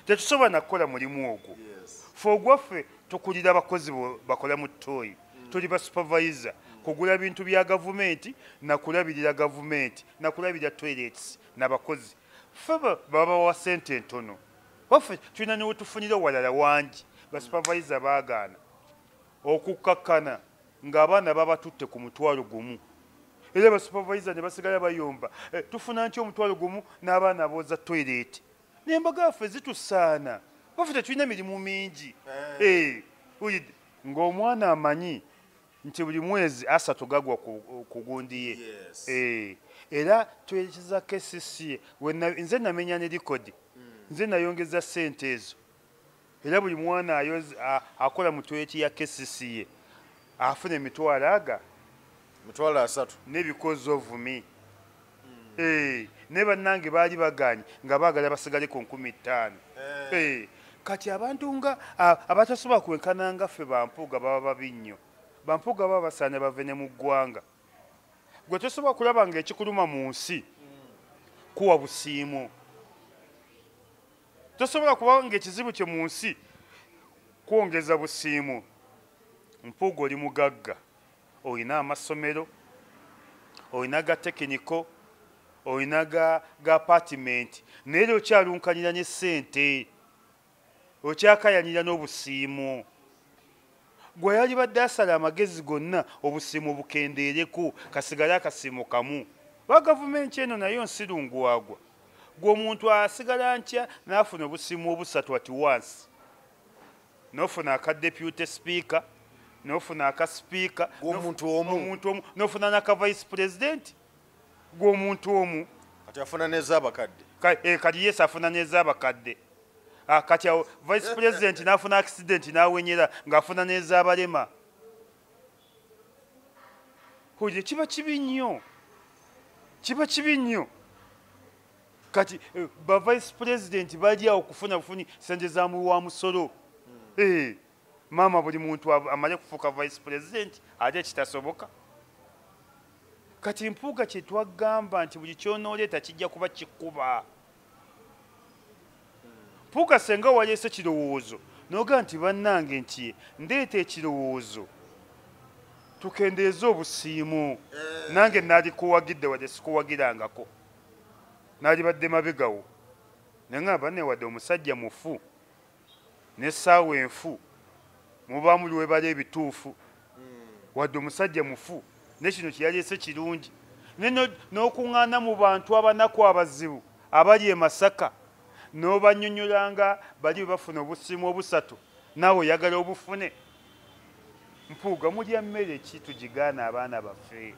tetusobola nakukola mulimu ogwo fe ogwaffe tukulira abakozi bakola mu toyi tuli ba supervisor kugula bintu bya gavumenti nakulabirira gavumenti nakulabirira toilets nabakozi fe babawa sente entono waffe tulina newetufunira walala wangi ba supervisor bagaana okukkakkana ng'abaana babatutte ku mutwalo gumu era ba supervisor ne basigala bayomba eh, tufuna nti omutwalo gumu n'abaana booza toileti nembaga yaffe zitusaana baffe tetulina emirimu mingi eh. Eh, ng'omwana amanyi nti buli mwezi asatu gagwa ku gundi ye eh, era twerekeza kcca nze namenya ne likodi hmm. nze nayongeza sente ezo Era buli mwana ayoz, a, akola mu toyeti ya KCCA afuna emitwalo aga mitwalo asatu n'ebikozzo vumi mm. hey. Eh, naye bannange baali baganye nga baagala basigale ku nkumi ttaano hey. Eh. hey. Eh, kati abantu nga abatasobola kwenkana nga ffe bampuuga baba babi nnyo bampuuga baba basaana bave ne mu ggwanga gwe tosobola kulaba ngaekikuluma mu nsi kuwa busiimu tosobola kuba ngaekizibu kyo mu nsi kwongeza busiimu mpuuga oli mugagga olina amasomero olina ga tekiniko olina ga apatimenti naye lyo okyalunkanira ne sente okyakayanira n'obusiimu Gwe yalibadde asala amagezi gonna obusiimo bukendeereko kasigale akasiimo kamu. Oba gavumenti eno nayo nsirungu wagwa. Gwe omuntu asigala ntya n'afuna obusiimo obusatu ati wansi. N'ofuna aka deputy speaker, n'ofuna aka speaker, n'ofuna n'aka vice president. gw'omuntu omu kati afuna nezabakadde eh, kati yes afuna nezabakadde ah, kati awo vice president nafuna accident nawenyera ngaafuna nezabalema oye kiba kibi nnyo kiba kibi nnyo kati eh, ba vice president bali awo kufuna bufuni sente za muwi wa musolo hmm. eh. maama buli muntu amale kufuuka vice president ate kitasoboka kati mpuuga kyetwagamba nti buli kyonooleeta kijja kuba kikuba mpuuga senga waleese kirowoozo noga nti bannange nti ndeeta ekirowoozo tukendeeze obusiimu eh. nange naali kuwagidde wadde sikuwagirangako naali badde mabegawo naye nga banewadde omusajja mufu n'essaawa enfu muba muli webala ebituufu wadde omusajja mufu ne kino kyeyaleese kirungi n'okuŋŋaana mu bantu abanaku abazibu abali e masaka n'obanyonyolanga bali bebafuna obusiimu obusatu naawe oyagala obufune mpuuga mulya mmere ki tugigaana abaana baffe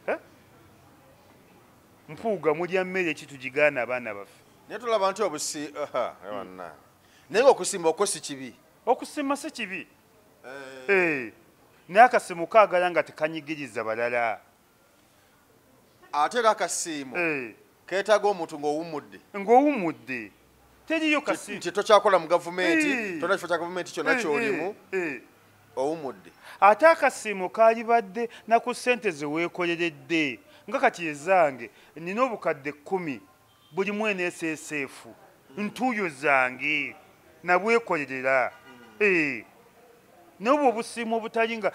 eh? mpuuga mulya mmere ki tugigaana abaana baffe naye tulaba nti obusi ewanna hmm. naye nga okusimba okwo si kibi okusimba si kibi eh. Eh. naye akasimu kaagala nga tekanyigiriza balala ate era akasiimu eh. keetaaga omuntu ng'owummudde ng'owummudde teriyo kasiimu nti tokyakola mu gavumenti tona kifo kya gavumenti kyonna kyolimu owummudde ate akasiimu kaalibadde naku ssente ze weekoleredde nga kati ezange nina obukadde kkumi buli mwene sseseefu ntuuyo zange nabwekolerera eh, nobwo obusiimu obutali nga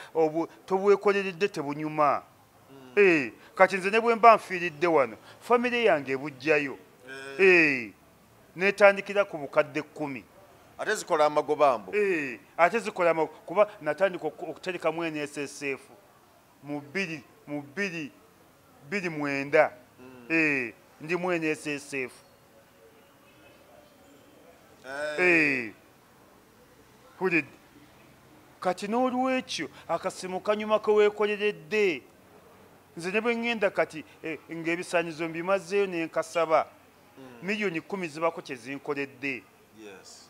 tobwekoleredde tebunyuma hmm. eh, kati nze ne bwemba nfiiridde wano famire yange ebujjayo eh. netandikira ku bukadde kkumi ate zikola amagoba mbu ate zikola kuba natandika okuterekamu eneseseefu mu bbiri mu bbiri bbiri mwenda mm. eh, ndi mu nssf eh. eh. kati n'olwekyo akasimu kanyuma keweekoleredde nze ne bwe ŋŋenda kati eh, ng'ebisaanyizo mbimazeeyo ne nkasaba mm. miliyoni kumi zibako kye zinkoledde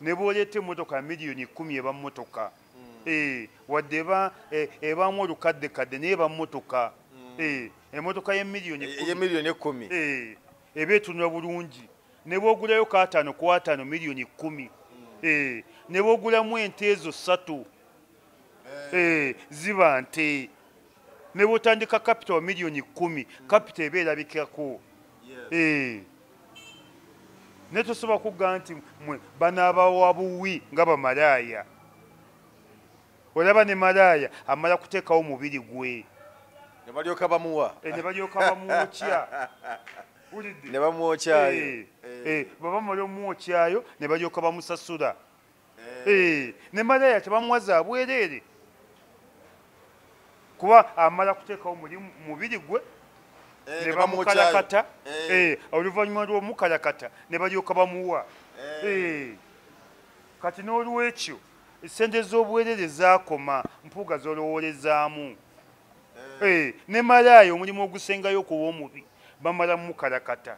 ne bw'oleeta emmotoka ya miliyoni kumi eba mmotoka mm. eh, wadde eba eh, ebaamu olukaddekadde naye eba mmotoka mm. eh, emmotoka yemiliyoni ekumi eba etunula bulungi ne bwogulayo kaataano ku ataano miliyoni kkumi mm. ne bwogulamu ente ezo ssatu ziba nte ne bwotandika kapita wa miliyoni kkumi kapita eba erabikako naye tosobola kugga nti mwe banaabawa buwi nga bamalaaya olaba ne malaaya amala kuteekawo omubiri gwe ne balyoka bamuwa eh, ne balyoka bamwokya ne bamwokyayo eh, eh, baba mala omwokyayo ne balyoka bamusasula ne malaya tebamuwa za bwereere kuba amala kuteekawo mulimu mubiri gwe eh, ne bamukalakata eh. eh, oluvannyuma lw'omukalakata ne balyoka bamuwa kati n'olwekyo esente z'obwerere zaakoma mpuuga zolowoolezaamu ne malaayo omulimu ogusengayo okuba omubi bamala mukalakata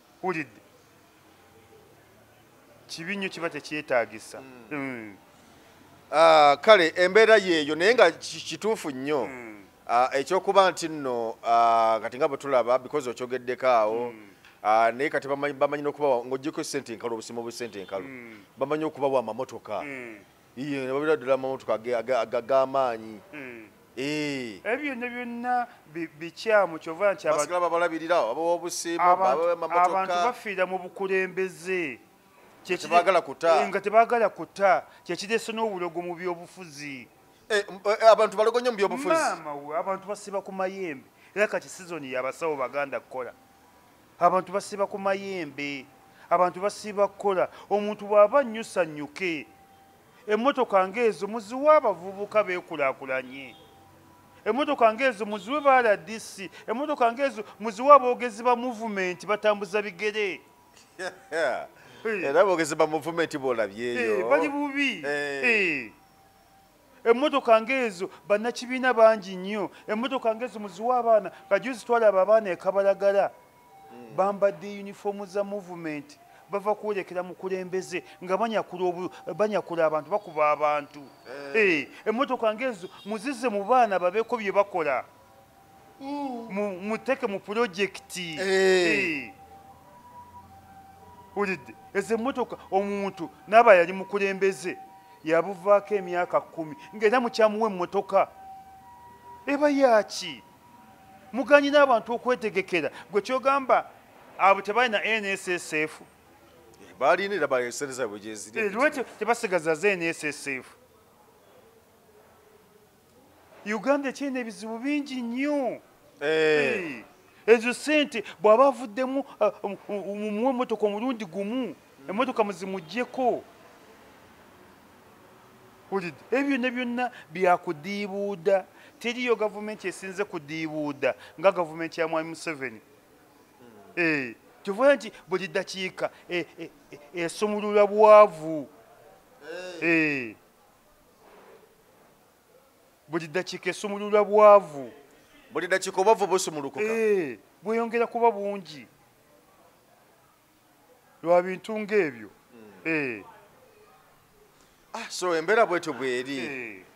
wulidde kibi nnyo kiba tekyetagisa hmm. hmm. ah, kale embeera yeeyo naye nga kituufu nnyo hmm. ah, ekyokuba nti nno ah, kati nga bwetulaba because okyogeddeko awo naye kati bamanyi nokubawa ngaogyeko sente enkalu obusima obusente enkalu bamanyi okubawa amamotoka iye ne babira ddala amamotoka ag'amaanyi hmm. eh. ebyo byonna byonna bikyamu kyova nti basigala babalabirira abawa obusiimo abantu bafiira mu bukulembeze kyekibagala kuta eh, nga tebagala kuta kyekireese n'obulogo mu byobufuzi eh, abantu balogo nnyo mu byobufuzi maama we abantu basiba ku mayembe era kati sizoni yabasawo baganda kukola abantu basiba ku mayembe abantu basiba kukola omuntu bw'aba nnyo sanyuke emmotoka ng'ezo muziwa abavubuka beekulakulanye emmotoka ng'ezo muziwe ba rdc emmotoka ng'ezo muziwe aboogezi ba muvumenti batambuza bigere era boogezi ba muvumenti bw'olabyeyo eh, bali bubi eh. Eh. emmotoka ng'ezo bannakibiina bangi nnyo emmotoka ng'ezo muziwa abaana kajuzi twalaba abaana ekabalagala hmm. bambadde yunifoomu za muvumenti bava kwolekera mukulembeze nga banyakula abantu bakuba abantu eh. Eh, emmotoka ng'ezo muzize mu baana babeeko bye bakola muteke mu pulojekiti ulidde ezo emmotoka omuntu naaba yali mukulembeze yabuvaako emyaka kumi ngaera mukyamuwa emmotoka eba yaaki muganyi n'abantu okwetegekera gwe kyogamba abo tebalina nssf balinaerabaaesereza bwegyeziri eh, lwekyo tebasigaza za nssf uganda ekyalina ebizibu bingi nnyo eh. ezo sente bw'aba avuddemu ah, um, um, mumuwa emotoka omulundi gumu emotoka muzimugyeko wulidde ebyo byonna byonna byakudiibuuda teriyo gavumenti esinze kudiibuuda nga gavumenti ya mwami museveni hmm. eh, kivuga nti buli dakiika esumulula eh, bwavu buli dakiika esumulula bwavu buli dakiika obwavu busumulukuka eh, bweyongera kuba bungi lwa bintu ngaebyo hmm. eh. ah, so embeera bwetyo bweri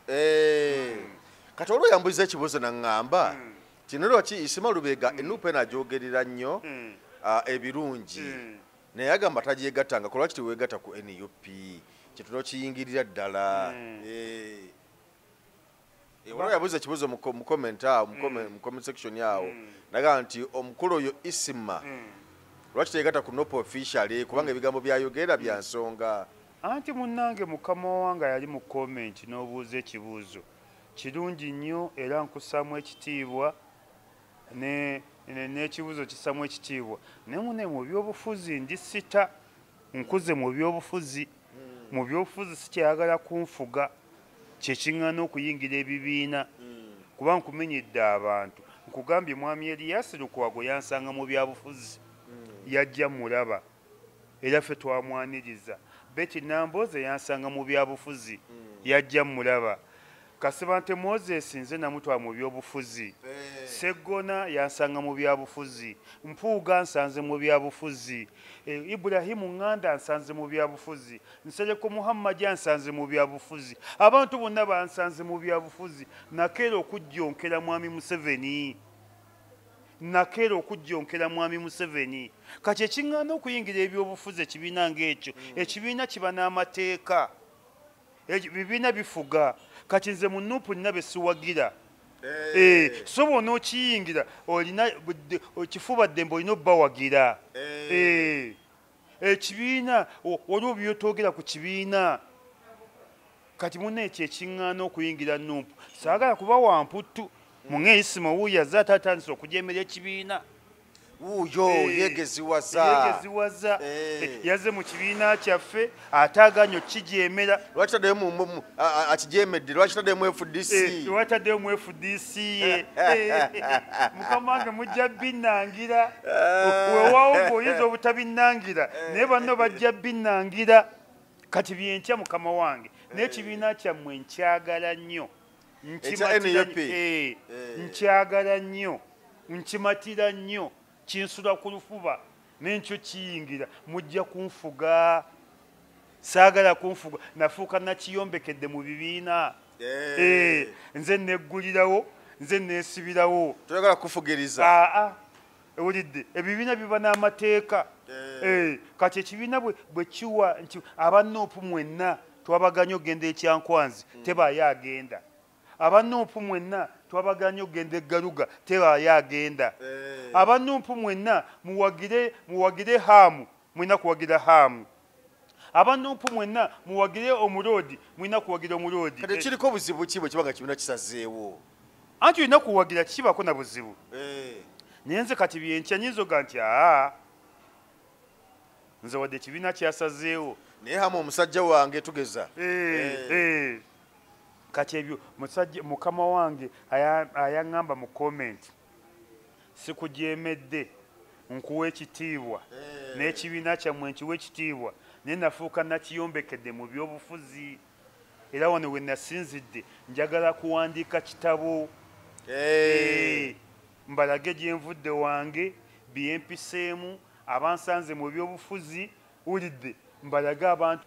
eh. hmm. kati olwo yambuliza ekibuzo naŋŋamba hmm. kino lwaki isima lubega enuupa eno agyogerera nnyo ah, ebirungi naye agamba tagyegattanga kolwaki teweegatta ku nup kyetuna okiyingirira ddala hmm. eh. eh, waliwo yabuuza ekibuuzo mu comment awo mu hmm. comment section awo hmm. nagamba nti omukulu oyo isima lwaki teyegatta ku nopo officially kubanga ebigambo byayogera bya nsonga anti munnange mukama wanga yali mu comment n'obuuza ekibuuzo kirungi nnyo era nkusaamu ekitiibwa n'ekibuzo kisamu ekitiibwa naye mune mu byobufuzi ndi sita nkuze mu byobufuzi hmm. mu byobufuzi sikyayagala kunfuga kyekiŋŋana okuyingira ebibiina hmm. kuba nkumenyedde abantu nkugambye mwami eliyasi lukwago yansanga mu byabufuzi hmm. yajja mulaba era ffe twamwaniriza beti namboozi eyansanga mu byabufuzi hmm. yajja mulaba kasibante moses nze namutwala mu byobufuzi eh. seggona yansanga mu byabufuzi mpuuga nsanze mu byabufuzi eh, iburahimu nganda nsanze mu byabufuzi nsereko muhammadi ansanze mu byabufuzi abantu bonna bansanze mu byabufuzi nakeera okujjonkera mwami museveni nakeera okujjonkera mwami museveni kati ekiŋŋaana okuyingira ebyobufuzi ekibiina ng'ekyo hmm. ekibiina kiba n'amateeka ebibiina bifuga kati nze mu nupu nina be siwagira eh. Eh, so bona okiyingira olina kifuba ddembe olina obubawagira eh. ekibiina waliwo byotogera ku kibiina kati muna ekyo ekiŋŋaana okuyingira numpu saagala kuba wamputtu munga eyisima owuuyo aze ate atandisa okujemera ekibiina wuuyo eh, yegeziwazayegeziwaza eh. eh, yaze mu kibiina kyaffe ate aganyo kukijemera lwaki taddeyo akijemedde lwaki taddeyo mu fdc lwaki taddeyo mu fdc dc ye mukama wange mujja binangira eh. wewawo ngaoyinza obutabinangira eh. naye banno bajja binangira kati byenkya mukama wange naye ekibiina eh. kyammwe nkyagala nnyo nkyagala nnyo nkimatira nnyo kinsula ku lufuba nenkyo kiyingira mujja kunfuga saagala kunfuga nafuuka nakiyombekedde mu bibiina eh. Eh, nze neggulirawo nze nesibirawo toyagala kufugiriza aa ewulidde ebibiina biba n'amateeka eh. kati ekibiina bwe kiwa nti aba noopu mwenna twabaganye okugenda ekyankwanzi hmm. tebaayo agenda aba noopu mwenna twabaganye okugenda eggaluga tebaayo agenda aba noopu mwenna muwagire haamu mulina kuwagira haamu abanumpu mwenna muwagire omuloodi mulina kuwagira omuloodi kati kiriko buzibu ki bwe kiba nga kibiina kisazeewo anti olina kuwagira kikibaako na buzibu eh. naye nze kati byenkya nyinza oga nti aa nze wadde ekibiina kyasazeewo naye hamu omusajja wange tugeza eh, eh. kati ebyo musajja mukama wange ayaŋŋamba mu komenti sikujeemedde nkuwa ekitiibwa eh. n'ekibiina kyammwe nkiwa ekitiibwa naye nafuuka nakiyombekedde mu byobufuzi era wano we nasinzidde njagala kuwandiika kitabo eh. Eh, mbalage gyenvudde wange byempiseemu abansanze mu byobufuzi wulidde mbalage abantu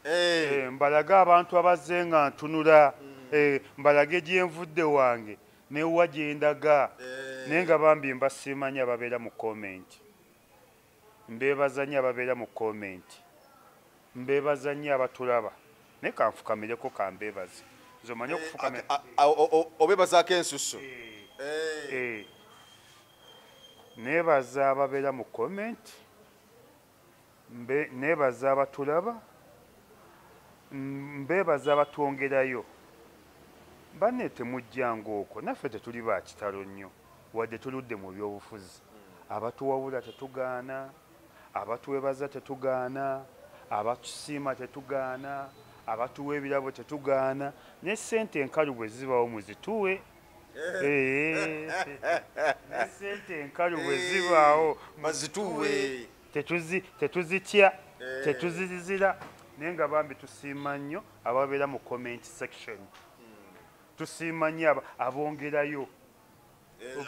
mbalage abantu abazze nga ntunula mm. mbalage gyenvudde wange newa gyendaga eh. naye nga bambi mba simanyi ababeera mu comment mbebaza nyo ababeera mu comment mbebaza nyo abatulaba naye kanfukamireko kambebaze nze omanyi eh, okufukamira obebazaako ensusu eh. nebaza ababeera mu comment Nebaza abatulaba, mbebaza abatwongerayo. Banne temujja nga okwo, naffe tetuli ba kitalo nnyo wadde tuludde mu byobufuzi. Abatuwabula tetugaana, abatwebaza tetugaana, abatusiima tetugaana, abatuwa ebirabo tetugaana, ne ssente enkalu bwe zibaawo muzituwe sente enkalu bwe zibaawo mazituwe tetuzitya tetuzizira naye nga bambi tusiima nnyo ababeera mu comment section tusiima nnyo abongerayo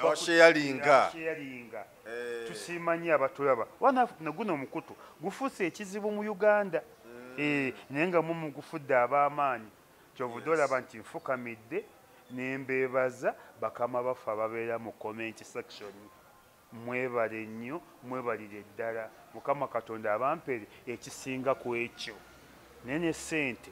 abasheyalinga eh. tusiima nnyo abatulaba wana naguno omukutu gufuuse ekizibu mu uganda mm. eh, naye nga mumugufudde ab'amaanyi kyovude olaba nti nfukamidde nembeebaza bakama baffe ababeera mu comment section mwebale nnyo mwebalire ddala mukama katonda abampere ekisinga ku ekyo naye ne ssente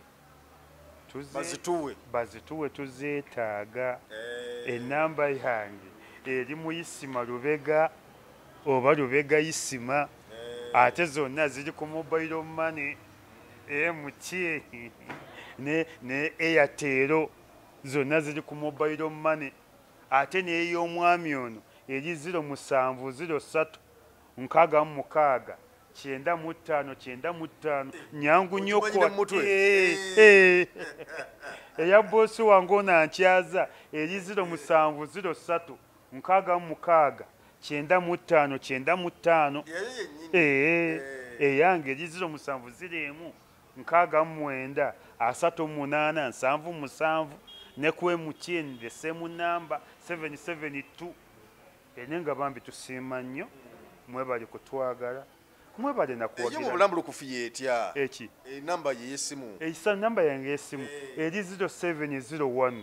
bazituwe tuzeetaaga eh. enamba yange eri muyisima lubega oba lubega yisima eh. ate zonna ziri ku mobile money e mutye ne ne airtel zonna ziri ku mobile money ate n'ey'omwami ono eri ziro musanvu ziro ssatu nkaaga mu mukaaga kyenda mu ttaano kyenda mu ttaano nyangu nnyo kwate eh, eh. eya boosi wange ono ankyaza eri ziro musanvu ziro ssatu nkaaga mu mukaaga kyenda mu ttaano kyenda mu ttaano ee eyange egiziro musanvu ziri emu nkaaga mu mwenda asatu mu munaana nsanvu musanvu ne ku emutn the same number 772 ene nga bambi tusiima nnyo mwebali kutwagala mwebale nakuwagiraobulamu lukufu yetya eki enamba eh, yeyesimu esa eh, namba yange yesimu eri 0701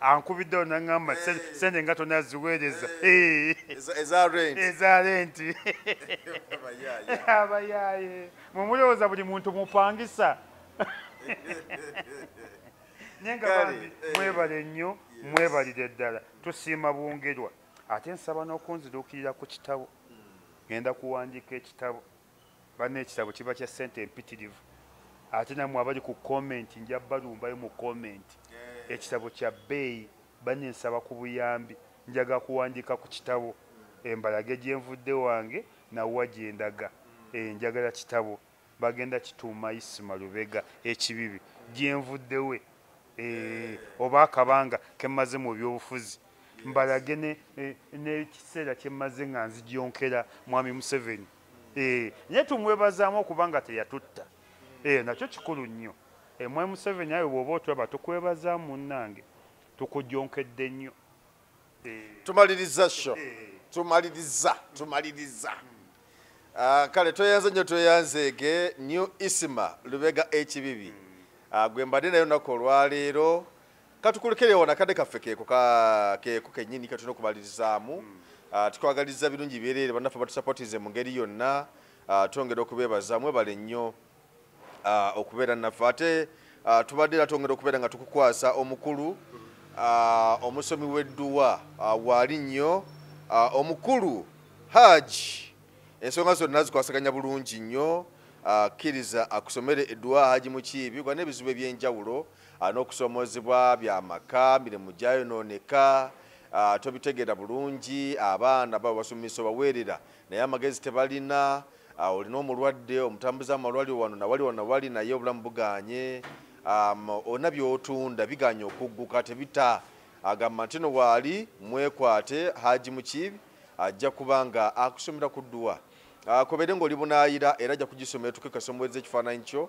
ankubidde ono naŋŋamba eh. sente nga tona ziweereza eh. Eh. eza renti abayaaye mwemulowooza buli muntu mupangisa naye nga bambi mwebale nnyo mwebalire ddala tusiima bwongerwa ate nsaba n'okunziruukirira ku kitabo hmm. ngenda kuwandiika ekitabo banna ekitabo kiba kya sente empitirivu ate namwe abali ku comment nja balumbayo mu comment eh. ekitabo kya bbeeyi banne nsaba ku buyambi njaga kuwandiika ku kitabo embalage gyenvudde wange nawa gyendaga hmm. eh, njagala kitabo bagenda kituuma isima lubega ekibibi gyenvuddewe eh, oba akabanga kemaze mu byobufuzi mbalage nekiseera eh, kyemmaze nga nzijonkera mwami museveni eh, naye tumwebazaamu okuba nga teyatutta eh, nakyo kikulu nnyo mwami museveni awe bwoba otulaba tukwebazaamu munnange tukujonkedde nnyo tumaliriza sho tumaliriza tumaliriza hmm. ah, kale tweyanze nnyo tweyanzeege new isima lubega ekibibi hmm. ah, gwe mbadde nayo naku olwaleero katukulekere wona kade kaffe keeko keeko kenyini katuna okubalirizaamu hmm. ah, tukwagaliza birungi byereere banaffe batusapotize mu ngeri yonna ah, twongera okubeebaza mwebale nnyo ah, okubeera naffe ate tubadde era twongera okubeera nga tukukwasa omukulu omusomi w'edduwa waali nnyo omukulu haji ensonga zonna zikwasaganya bulungi nnyo kkiriza akusomere edduwa haji mukiibi gwa n'ebizibu eby'enjawulo n'okusomoozebwa bya maka mirimu gyayonooneka tobitegeera bulungi abaana baba basomesa obaweerera naye amagezi tebalina olina omulwadde omutambuza amalwaliro wano nawali wano nawali naye obulamu buganye olina byotunda biganye okugguka tebita agamba nti no waali mwekwate haji mukiibi ajja kuba nga akusomera ku dduwa Ah, kobere ngoli bunayira era ja kujisoma etuke kasomweze kifananyi kyo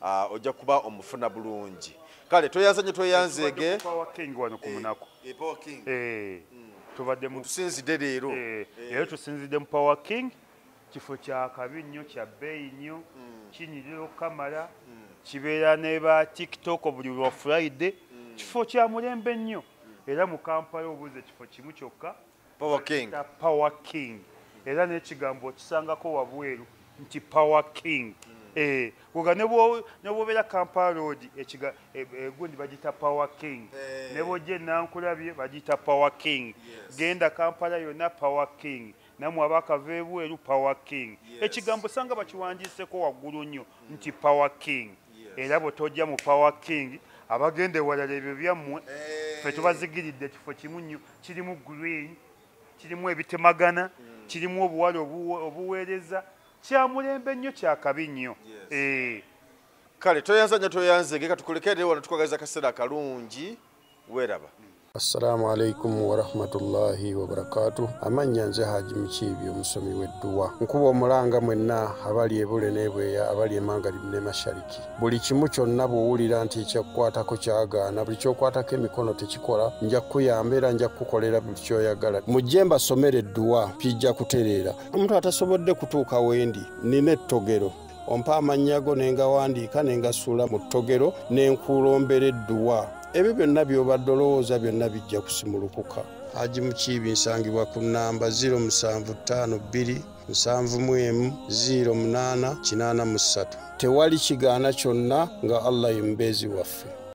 Ah, ojja kuba omufuna bulungi kale tweyanzanye tweyanzeege eh, eh, hmm. tusinzidde leero eh, era tusinzidde mu power king kifo kyakabi nnyo kya bbeeyi nnyo hmm. kinyirira okukamala hmm. kibeera ne ba tiktok buli lwa friday kifo kya mulembe nnyo era mu kampala obuuza ekifo kimu kyokka power king ta power king era ne kigambo kisangako wabweru nti power king eh kuga nebo nebo bela kampala road ekiga e, e, gundi bajita power king eh. nebo je nankula bye bajita power king yes. genda kampala yona power king namwe abaka vebu elu power king yes. ekigambo sanga bakiwanjise ko wagulu nyo mm. nti power king yes. era botoja mu power king abagende walale byo byamwe hey. Eh. fe tubazigiridde kifo kimu nyo kirimu green kirimu ebitemagana mm. kirimu obuwale obuweereza kyamulembe nnyo kyakabi nnyo yes. eh. kale toyanza nyo toyanze geka tukulekere wano tukwagaliza kaseera kalungi weraba assalamu alaikum warahmatullahi wabarakatu amannya nze haji mukiibi omusomi w'edduwa nkuba omulanga mwenna abali ebule n'ebweya abali emangalib ne mashariki buli kimu kyonna bw'owulira nti ekyakukwatako kyagaana buli kyokwatako emikono tekikola nja kukuyamba era nja kukukolera buli kyoyagala mujje mbasomera edduwa kijja kutereera omuntu atasobodde kutuuka wendi nina ettogero ompa amannya go ne ngawandiika ne ngasuula mu ttogero ne nkuulombera edduwa ebyo byonna by'obadde olowooza byonna bijja kusimulukuka haji mukiibi nsangibwa ku nnamba 0752 nsanvu mu emu ziiro munaana kinaana mu ssatu tewali kigaana kyonna nga allah ye mubeezi waffe